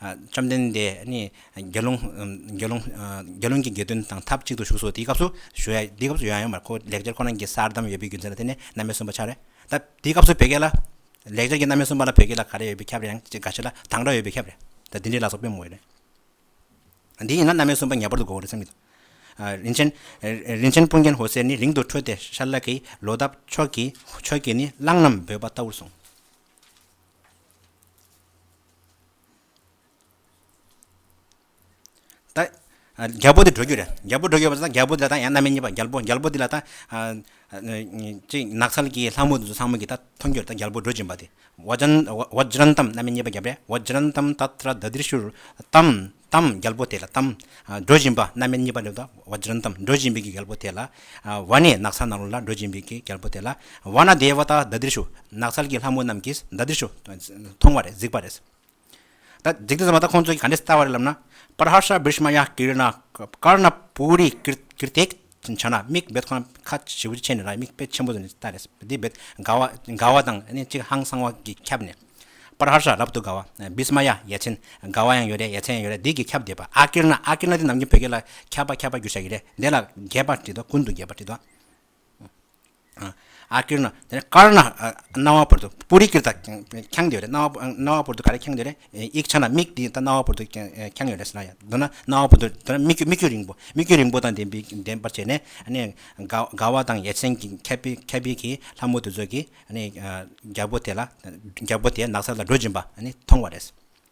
བཅོམ་ལྡན་འདས་ནི་དགེ་སློང་དགེ་སློང་དགེ་སློང་གི་དགེ་འདུན་དང་ཐབས་ཅིག་ཏུ་བཞུགས་སོ་དེའི་སྐབས་སུ་ཞུ་ཡ་དེའི་སྐབས་སུ་ཞུ་ཡ་ཡང་མར་ཁོ་བོ་ལེགས་སྦྱར་ཁོ་ན་གྱི་སར་འདམ་ཡོད་པའི་རྒྱུ་མཚན་ལ་བརྟེན་ནས་རྣམ་དབྱེ་གསུམ་པ་ཆགས་རེ་ད་དེའི་སྐབས་སུ་བོད་སྐད་ལ་ལེགས་སྦྱར་གྱི་རྣམ་དབྱེ་གསུམ་པ་ལ་བོད་སྐད་ལ་ག་རེ་ཡོད་པའི་ཁྱབ་རེ་ཡང་ཅིག་ག་ཞིག་ལ་དང་སྒྲ་ཡོད་པའི་ཁྱབ་རེ་ད་འདི་འདྲའི་ལ་སོགས་སྤེལ་མོ་ཡོད་རེད་འདི་ཡིན་ན་རྣམ་དབྱེ་གསུམ་པ་ངེས་པར་དུ་གོ་བ་རེད་བསམ་གྱི་འདུག་རིན་ཆེན་རིན་ཆེན་དཔུང་རྒྱན་ཧོ་སེར་ནི་རིང་དུ་ཁྲོས་ཏེ་ཤར་ལྷ་ཀྱི་ལོ་འདབ་ཕྱོགས་ཀྱིས་ནི་གླང་རྣམས་འབོད་པ་ལྟ་བུར་གསུངས། རྒྱལ་པོ་དེ་འགྲོ་རྒྱུ་རེད་རྒྱལ་པོ་འགྲོ་རྒྱུ་རེད་རྒྱལ་པོ་དེ་ལ་ཡང་ན་མི་གཉིས་པ་རྒྱལ་པོ་རྒྱལ་པོ་དེ་ལ་ད་ནགས་ཚལ་གྱི་ལྷ་མོ་དེ་ཚོ་ཚང་མ་གིས་ད་མཐོང་རྒྱུར་ད་རྒྱལ་པོ་འགྲོ་བཞིན་པ་དེ་ཝཱ་ཇཱན་ཏམ་རྣམ་པའི་གཉེན་པ་རྒྱལ་པོ་ཝཱ་ཇཱན་ཏམ་ཏཱ་ཏྲ་དཱ་ཏིར་ཤུར་ཏམ་དམ་རྒྱལ་པོ་དེ་ལ་དམ། སྒྲོལ་བཞིན་པ་རྣམ་མེད་གཉིས་པ་ལས་བཟློག། བརྗོད་དམ་སྒྲོལ་བཞིན་པའི་རྒྱལ་པོ་དེ་ལ། བ་ནས་ནགས་ཚལ་ནང་རོལ་ལ་སྒྲོལ་བཞིན་པའི་རྒྱལ་པོ་དེ་ལ། བ་ན་དེའི་བ་དག་མདའ་དིར་ཞུ། ནགས་ཚལ་གྱི་ལྷ་མོ་རྣམས་ཀྱིས་མདའ་དིར་ཞུ། མཐོང་བ་རེད་གཟིགས་པ་རེད། ད་གཟིགས་ཏེ་ཟེར་བ་ད་ཁོང་ཚོས་ག་འདྲས་བལྟ་བ་རེད་ལབ་ན། པར་ཧར་ཤ་བིར་ཤ་མ་ཡ་ཀིར་ན་ཀར་ན་པུ་རི་ཀིར་ཐེག། ཆ་ན་མིག་འབེད་ཁང་ཁ་ཆེ་བོ་ཆེ་ནས་ལ་མིག་དཔེ་ཆེན་པོ་ལྟ་རེད། དེ་འབེད་དགའ་བ་དགའ་བ་དང་གཅིག་ཧང་སང་བ་གིས་ཁྱབ་ནས། པར་ཧར་ཧྲ་རབ་ཏུ་དགའ་བ། བིས་མ་ཡ་ཡ་ཆེན་དགའ་བ་ཡང་ཡོད་རེད་ཡ་ཆེན་ཡང་ཡོད་རེད་འདི་གིས་ཁྱབ་བསྡད་པ་ཨ་ཀིར་ན་ཨ་ཀིར་ན་འདི་ནམ་རྒྱུན་བོད་སྐད་ལ་ཁྱབ་པ་ཁྱབ་པ་རྒྱུ་ཆ་ཡིན་རེད་འདི་ལ་རྒྱས་པར་བྲིས་འདུག་ཀུན་ཏུ་རྒྱས་པར་བྲིས་འདུག། ཨ་ཀིར་ན། དེ་ནས་ཀར་ན། རྣ་བ་བོར་དུ་སྤུ་རིས་ཀིར་དང་འཁྱང་འདོད་རེད། རྣ་བ་བོར་དུ་ག་རེ་འཁྱང་འདོད་རེད། ཡིག་ཆ་ན་མིག་དེ་རྣ་བ་བོར་དུ་འཁྱང་ཡོད་རེད་ཟེར་ན་ཡང། མདོར་ན་རྣ་བ་བོར་དུ་དེ་ནས་མིག་སྐྱུ་རིང་པོ། མིག་སྐྱུ་རིང་པོ་དང་ལྡན་པར་བྱས་ནས། དགའ་བ་དང་ཡ་མཚན་གྱི་ཁ་དཔེ་གྱིས་ལྷ་མོ་དེ་ཚོ་གིས་རྒྱལ་པོ་དེ་ནགས་ཚལ་ལ་འགྲོ་བཞིན་པ་མཐོང་བ་རེད།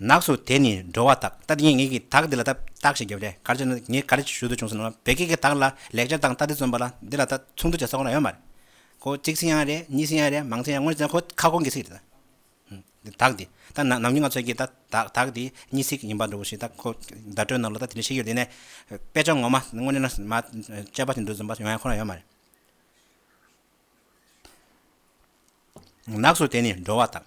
ནགས་སུ་དེད་ནས་འགྲོ་བ་དག་ལྟ་དེ་ངས་ཀྱི་དག་འདི་ལ་ལྟ་བརྟག་ཞིག་བརྒྱབ་སྟེ་གར་བྱས་ན་ངས་ག་རེ་ཞུ་འདོད་བྱུང་ཟེར་ན་བོད་སྐད་ཀྱི་དག་ལ་ལེགས་སྦྱར་དང་ལྟ་དེ་བརྩོན་པ་ལ་འདི་ལ་ལྟ་ཚུར་འདུ་བྱེད་ས་ཁོ་ན་ཡོད་མ་རེད་ཀོ་གཅིག་ཚིག་ཡང་རེད་གཉིས་ཚིག་ཡང་རེད་མང་ཚིག་ཡང་དངོས་གནས་ཁོ་ཁ་སྐོང་གི་ཚིག་རེད་ད། དག་འདི་ལྟ་ནམ་རྒྱུན་ང་ཚོས་ཀྱི་ལྟ་དག་འདི་གཉིས་ཚིག་ཡིན་པ་འདྲ་བོ་ཞིག་ལྟ་ཁོ་བརྡ་སྤྲོད་ནང་ལ་ལྟ་དེ་འདྲ་ཞིག་ཡོད་དེ་ནས་དཔེ་ཆ་ངོ་མ་དངོས་གནས་ན་མ་དཔྱད་པ་ཞིག་འདུག་བརྩོན་པ་ཡང་ཡང་ཁོ་ན་ཡོད་མ་རེད། ནགས་སུ་དེ་ནི་འགྲོ་བ་དང།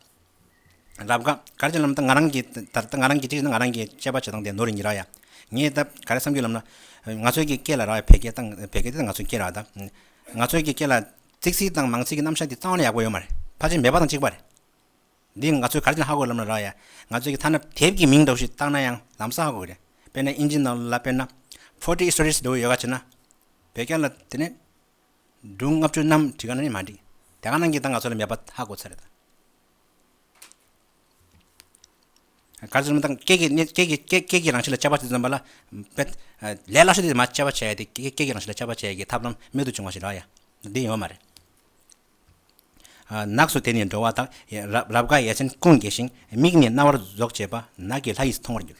རབ་དགའ། ག་རེ་ཅན་ལམ་དང་ང་རང་གི། ད་ལྟ་ང་རང་གི་ཅི་བྱེད་ན་ང་རང་གི་དཔྱད་པ་བྱེད་སྟངས་དེ་ནོར་ཡིན་རག་ཡ། ངས་ད་ག་རེ་བསམ་རྒྱུ་ལབ་ན། ང་ཚོའི་གི་སྐད་ལ་རག་བའི་བད་སྐད་དང་བད་སྐད་དེ་ད་ང་ཚོའི་སྐད་རག་ད། ང་ཚོའི་གི་སྐད་ལ། ཚིག་ཚིག་དང་མང་ཚིག་གི་རྣམ་གཞག་དེ་གཙང་བ་ན་ཡག་པོ་ཡོད་མ་རེད། ཕར་ཕྱིན་མེད་པ་དང་གཅིག་པ་རེད། འདི་ང་ཚོས་ག་རེ་ཅན་ཧ་གོ་ལབ་ན་རག་ཡ། ང་ཚོའི་གི་ཐ་ན་དེབ་གི་མིང་འདྲ་བོ་ཞིག་བཏགས་ན་ཡང་ལམ་སང་ཧ་གོ་གི་རེད། དཔེར་ན་ཨིན་ཇི་ནང་ལ་དཔེར་ན། Forty Stories འདྲ་བོ་ཡོད་ག་བྱེད་ན། བད་སྐད་ལ་དེ་ནས། སྒྲུང་ལྔ་བཅུ་རྣམས་བྲིས་གང་ནས་མ་འགྲིག་དེ་གང་ནང་གི་ད་ང་ཚོ་ལ་མེད་པ་ཧ་གོ་ཚར་རེད། ག་ཚོད་ནང་སྐད་ཀྱི་གནས་སྐད་ཀྱི་སྐད་སྐད་ཀྱི་རང་བཞིན་ལ་དཔྱད་པ་དེ་ཙམ་པ་ལ་དཔེ་ལས་སླ་ཤོས་དེ་དེ་མ་དཔྱད་པ་བྱས་ཏེ་སྐད་ཀྱི་རང་བཞིན་ལ་དཔྱད་པ་བྱེད་ཀྱི་ཐབས་ལམ་རྨད་དུ་བྱུང་བ་ཞིག་རག་ཡ་འདི་ཡོད་མ་རེད། ནགས་སུ་དེད་ནས་འགྲོ་བ་དག་རབ་དགའ་ཡས་མཚན་ཀུན་དགྱེས་ཤིང་མིག་ནི་རྣ་བར་རྫོགས་བྱེད་པ་ནགས་ཀྱི་ལྷ་ཡིས་མཐོང་བར་འགྱུར།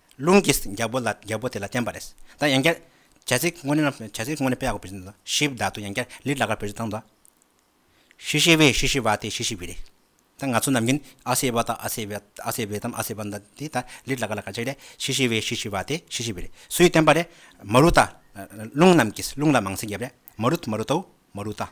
ལུང་གིས་རྒྱལ་པོ་ལ་རྒྱལ་པོ་དེ་ལ་བསྟན་པ་རེད། ད་ཡང་བསྐྱར། བྱ་ཚིག་དངོས་གནས་རྣམས་བྱ་ཚིག་དངོས་གནས་དཔེ་ཡག་པོ་བེད་སྤྱོད་དང་ཞིབ་བདག་ཏུ་ཡང་བསྐྱར་ལིར་ལ་ཀར་བེད་སྤྱོད་བཏང་དང། ཤི་ཤི་བའི་ཤི་ཤི་བ་དེ་ཤི་ཤི་བི་རེད། ད་ང་ཚོ་ནམ་རྒྱུན་ཨ་སེ་བ་དང་ཨ་སེ་བེ་ཨ་སེ་བེ་དང་ཨ་སེ་བ་འདི་དེ་ད་ལིར་ལ་ཀར་ལ་ཀར་བྱས་ཏེ་ཤི་ཤི་བའི་ཤི་ཤི་བ་དེ་ཤི་ཤི་བི་རེད་སུས་བསྟན་པ་རེད། མ་རུ་ཏཱ། ལུང་རྣམས་ཀྱིས་ལུང་ལ་མང་སེང་རྒྱབ་རེད་མ་རུ་མ་རུ་ཏའུ་མ་རུ་ཏཱ།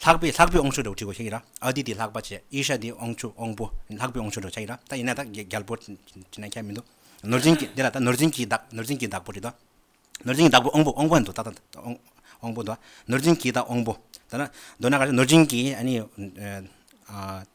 ལྷག་པའི་ལྷག་པའི་ཨོང་ཆུ་དྲོ་བྲིས་གོ་ཤེས་ཀྱི་ར་ཨ་དེ་དེ་ལྷག་པ་བྱས་ཨི་ཤ་དེ་ཨོང་ཆུ་ཨོང་པོ་ལྷག་པའི་ཨོང་ཆུ་དྲོ་བྱ་ཡི་ར་ད་ཡིན་ན་ད་རྒྱལ་པོ་བྲིས་ན་ཁྱད་མི་འདུག་ནོར་འཛིན་གྱི་དེ་ལ་ད་ནོར་འཛིན་གྱིས་བདག་ནོར་འཛིན་གྱིས་བདག་པོ་བྲིས་ཏོ། ནོར་འཛིན་གྱི་བདག་པོ་ཨོང་པོ་ཨོང་པོ་ཨེ་འདུག་ད་ད་ཨོང་པོ་འདུག་ཨ་ནོར་འཛིན་གྱིས་ད་ཨོང་པོ་ད་ན་འདོད་ན་ག་རེ་ནོར་འཛིན་གྱིས་ཨ་ནི།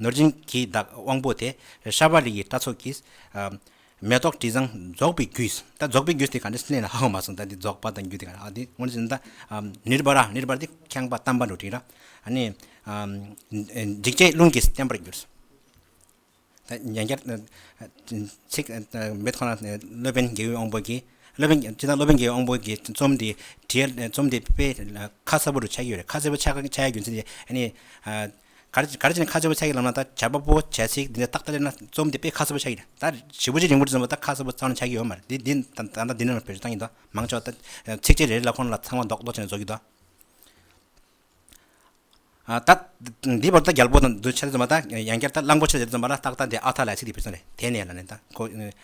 ནོར་སྦྱིན་གྱིས་བདག་དབང་པོ་དེ་ཤར་བ་ལི་ཡི་སྐྲ་ཚོགས་ཀྱིས། མེ་ཏོག་དྲི་བཟང་རྫོགས་པའི་རྒྱུས། ད་རྫོགས་པའི་རྒྱུས་དེ་ག་འདྲ་སེམས་ལེན་ན་ཧ་གོ་མ་སོང་ད་འདི་རྫོགས་པ་དང་རྒྱུ་དེ་ག་འདྲ་དེ་སྔོན་ཟིན་ད། ནིར་བ་ར་ནིར་བ་ར་དེ་ཁེངས་པ་བལྟམས་པ་འགྲོ་དྲིས་ར། ནི། འཇིགས་བྱེད་རླུང་གིས་བརྟན་པར་གྱུར། ད་ཡང་བསྐྱར། ཚིག། མེ་ཏོག་ནི་སློབ་དཔོན་རྒྱལ་བའི་དབང་པོ་གྱིས། སློབ་དཔོན་ཅི་ད་སློབ་དཔོན་རྒྱལ་བའི་དབང་པོ་གྱིས་རྩོམ་འདི་བྲིས། རྩོམ་འདི་དཔེ། ཁ་གསལ་པོ་རུ་ཆགས་ཀྱི་ཡོད་རེད་ཁ་གསལ་པོ་ཆགས་ཆགས་ཡ་རྒྱུ་མཚན་ནི། གར་བྱས་ནས་ཁ་སྦྱོར་བའི་ཚད་ཀྱི་ལམ་ལ་ད་བྱར་པ་པོ་བྱས་ཚིག་འདི་འདྲ་རྟག་ལྟར་སླེབས་ན་རྩོམ་འདི་དཔེ་ཁ་གསལ་པོ་ཆགས་ཀྱི་རེད་ད་བཞི་པོ་ཅི་རིང་པོར་རྩོམ་པ་ད་ཁ་གསལ་པོ་གཙང་ལ་ཆགས་ཀྱི་ཡོད་མ་རེད་འདི་འདི་ད་ད་ལྟ་འདི་འདྲ་ན་བོད་ཆོས་གཙང་གི་འདུག་མང་ཆོག་ད་ཚིགས་བཅད་རེ་རེ་ལ་ཁོང་ལ་ཚང་མ་འདོགས་འདོགས་བྱས་ནས་རྫོགས་ཀྱི་འདུག་ཨ་ད་འདི་བར་ད་རྒྱལ་པོ་དང་འདུལ་བྱེད་རྩོམ་པ་ད་ཡང་བསྐྱར་ད་གླང་པོ་ཆེ་ཟེར་རྩོམ་པ་ལ་རྟག་ལྟ་འདི་ཨ་ཐག་ལ་ཡ་ཚིག་འདི་བུད་ས་རེད་དེ་ནས་ལ་ནས་ད་ཁོ་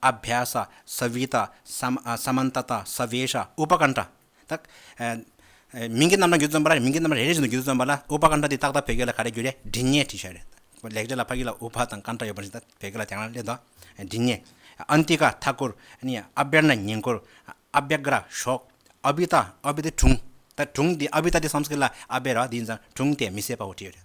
ཨ་བྷྱ་ས་སཱ་བྷི་ཏཱ་སཱ་མཱན་ཏཱ་ཏཱ་སཱ་བྷེ་ཤཱ་ཨུ་པ་ཀཱ་ནྟྲ། དག། མིང་གི་རྣམ་གྲངས་རྒྱུད་དུ་བརྩོན་པ་ལ་མིང་གི་རྣམ་གྲངས་རེ་རེ་བཞིན་དུ་རྒྱུད་དུ་བརྩོན་པ་ལ་ཨུ་པ་ཀཱ་ནྟྲ་དེ་ཏག་ཏག་བོད་སྐད་ལ་ག་རེ་རྒྱུད་རེ་འབྲི་ཉེས་བྲིས་ཤ་རེད། ལེགས་སྦྱར་ལ་ཕ་གི་ལ་ཨུ་བྷ་དང་ཀཱ་ནྟྲ་ཡོད་པ་བཞིན་ད་བོད་སྐད་ལ་དེ་རང་སླད་དུ་འབྲི་ཉེས། ཨན་ཏི་ཀ་མཐའ་བསྐོར། ཨ་བྷྱར་ནི་ཉེན་བསྐོར། ཨ་བྷྱ་ཀཱ་ར་ཞོག། ཨ་བྷི་ཏཱ་ཨ་བྷི་ཏཱ་དྲུང། ད་དྲུང་དེ་ཨ་བྷི་ཏཱ་དེ་སམ་སྐད་ལ་ཨ་བྷྱ་ར་དེ་ཡིན་ཙང་དྲུང་དེ་མི་བསད་པའོ་བྲིས་ཡོད་རེད།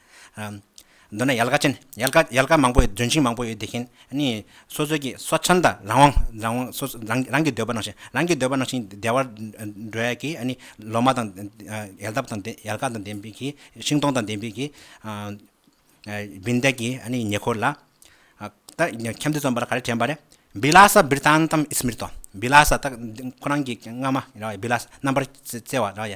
མདོར་ན་ཡལ་ག་ཅན། ཡལ་ག་ཡལ་ག་མང་པོ་ཡོད་ལྗོན་ཤིང་མང་པོ་ཡོད་དེ་བཞིན་ནི། སོ་སོའི་ཀྱི་སོ་ཆེན་དང་རང་དབང་རང་དབང་སོ་སོ་རང་རང་གི་འདོད་པ་ནང་བཞིན་རང་གི་འདོད་པ་ནང་བཞིན་བདེ་བར་འགྲོ་ཡ་གི་ནི། ལོ་མ་དང། ཡལ་འདབ་དང་ཡལ་ག་དང་ལྡན་པའི་གི་ཤིང་སྡོང་དང་ལྡན་པའི་གི། བིན་བདག་གི་ནི་ཉེ་འཁོར་ལ། ད་ཁྱམས་འདི་རྩོམ་པ་ལ་ག་རེ་དྲན་པ་རེད། བི་ལ་སཱ་བིར་ཏཱན་ཏཱམ་ཨིས་མིར་ཏོ། བི་ལ་སཱ་ད་ཁོ་རང་གི་སྔ་མ་ར་བའི་བི་ལ་སཱ་རྣམ་པར་རྩེ་བ་ར་ཡ།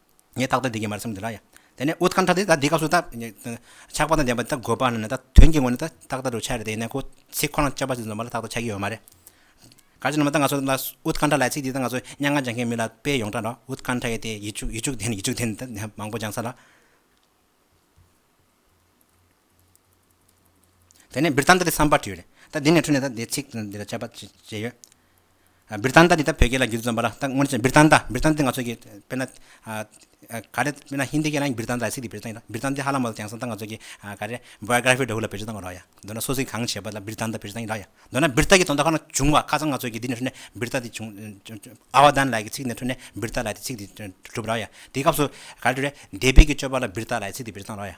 ངས་ཏག་ཏག་འདི་གས་མ་རེད་བསམ་གྱི་ར་ཡ། དེ་ནས་ཨུཏྤལ་ཁྲ་དེ་ད་འདི་སྐབས་སུ་ད། ཆགས་པ་དང་ལྡན་པ་ད་དགོས་པ་ན་ད་དོན་གྱི་ངོ་ནས་ད་ཏག་ཏག་འགྲོ་ཆ་རེད་དེ་ཡིན་ན་ཁོ་ཚིག་ཁོ་རང་སྤྱོད་པ་ཞིག་འཛོམས་པ་ལ་ཏག་ཏག་ཆགས་ཀྱི་ཡོད་མ་རེད། ག་ཅིག་ན་མ་ད་ང་ཚོ་ལ་ཨུཏྤལ་ཁྲ་ལ་ཚིག་འདི་ད་ང་ཚོ་སྙན་ངག་སྦྱང་མཁན་མི་ལ་དཔེ་ཡོངས་གྲགས་འདྲ་ཨུཏྤལ་ཁྲ་ཡེ་དེ་ཡེ་ཆུག་ཡེ་ཆུག་དེ་ཡེ་ཆུག་དེ་ད་མང་པོ་སྦྱང་ས་ལ། དེ་ནས་བིར་ཐཱན་ཏཱ་དེ་བསམ་པར་བགྱིད་ཡོད། ད་འདི་ནས་འཁྲུལ་ནས་ད་དེ་ཚིག་དང་འདི་ལ་དཔྱད་པ་བྱས་ཡོད། བིར་ཐཱན་ཏཱ་འདི་ད་བོད་སྐད་ལ་རྒྱུད་འཛོམས་པ་ལ་ད་སྔོན་བིར་ཐཱན་ཏཱ་བིར་ཐཱན་ཏཱ་ང་ཚོ་གི་དཔེར་ན་ག་རེ་དཔེར་ན་ཧིན་དི་སྐད་ལ་ཡང་བིར་ཐཱན་ཏཱ་ཡི་ཚིག་དེ་བིར་ཐཱན་ཡིན་ན་བིར་ཐཱན་ཏཱ་ཧ་ལམ་མོ་ལ་དེང་སང་ད་ང་ཚོ་གི་ག་རེ Biography འདྲ་བོ་ལ་བེད་སྤྱོད་གཏང་བ་རོགས་ཡ། མདོར་ན་སོ་སོའི་གང་བྱས་པ་ལ་བིར་ཐཱན་ཏཱ་བིར་ཐཱན་ཡིན་རོགས་ཡ། མདོར་ན་བིར་ཐཱན་གྱི་དོན་དག་ཁོ་ན་བྱུང་བ་ཁ་ཚང་ང་ཚོ་གི་འདི་ནས་འཁྲུལ་ནས་བིར་ཐཱན་ཏཱ་བྱུང། ཨའོ་ཐཱན་ལའི་གི་ཚིག་ནས་འཁྲུལ་ནས་བིར་ཐཱན་ལའི་དེ་ཚིག་དེ་གྲུབ་རོགས་ཡ། དེའི་སྐབས་སུ་ག་རེ་འདོད་རེད། སྡེ་དཔེ་གི་སྤྱོད་པ་ལ་བིར་ཐཱན་ལའི་ཚིག་དེ་བིར་ཐཱན་རོགས་ཡ།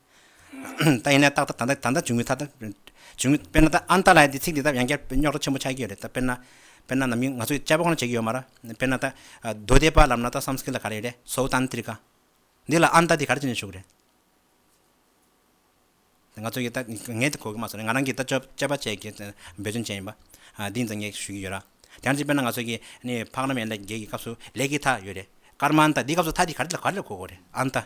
ད་ཡིན་ན་ཏག་ཏག་ད་ལྟ་འབྱུང་མི་ཐ་ད་འབྱུང་མི་དཔེར་ན་ད་ཨཱན་ཏཱ་ལའི་ཚིག་འདི་ད་ཡང་བསྐྱར་རྙོག་དྲ་ཆེན་པོ་ཆགས་ཀྱི་ཡོད་རེད་ད་དཔེར་ན་དཔེར་ན་ནམ་རྒྱུན་ང་ཚོས་དཔྱད་དཔོག་ཁོ་ན་བྱེད་ཀྱི་ཡོད་མ་ར་དཔེར་ན་ད་རྡོ་རྡེ་པ་ལབ་ན་ད་སངས་སྐིད་ལ་ག་རེ་ཡོད་རེད་སོའུ་ཏཱན་ཏིར་ཀ་འདི་ལ་ཨཱན་ཏཱ་འདི་ག་རེ་བྱེད་ནས་བཞུགས་རེད། ང་ཚོ་གིས་ད་ངས་དེ་གོ་གི་མ་སོང་ང་རང་གིས་ད་དཔྱད་པ་བྱས་ཀྱི་འབད་བརྩོན་བྱས་ཡིན་པ་འདི་ད་ངས་ཞུ་གི་ཡོད་ར་དེ་ཡང་གཅིག་དཔེར་ན་ང་ཚོ་གིས་ནི་ཕག་ནམ་ཡན་ལས་བརྒྱད་ཀྱི་སྐབས་སུ་ལས་ཀྱི་ཐ་ཡོད་རེད་ཀརྨ་ཨཱན་ཏཱ་འདིའི་སྐབས་སུ་ཐ་འདི་ག་རེ་ལ་ག་རེ་ལ་གོ་གོ་རེད་ཨཱན་ཏཱ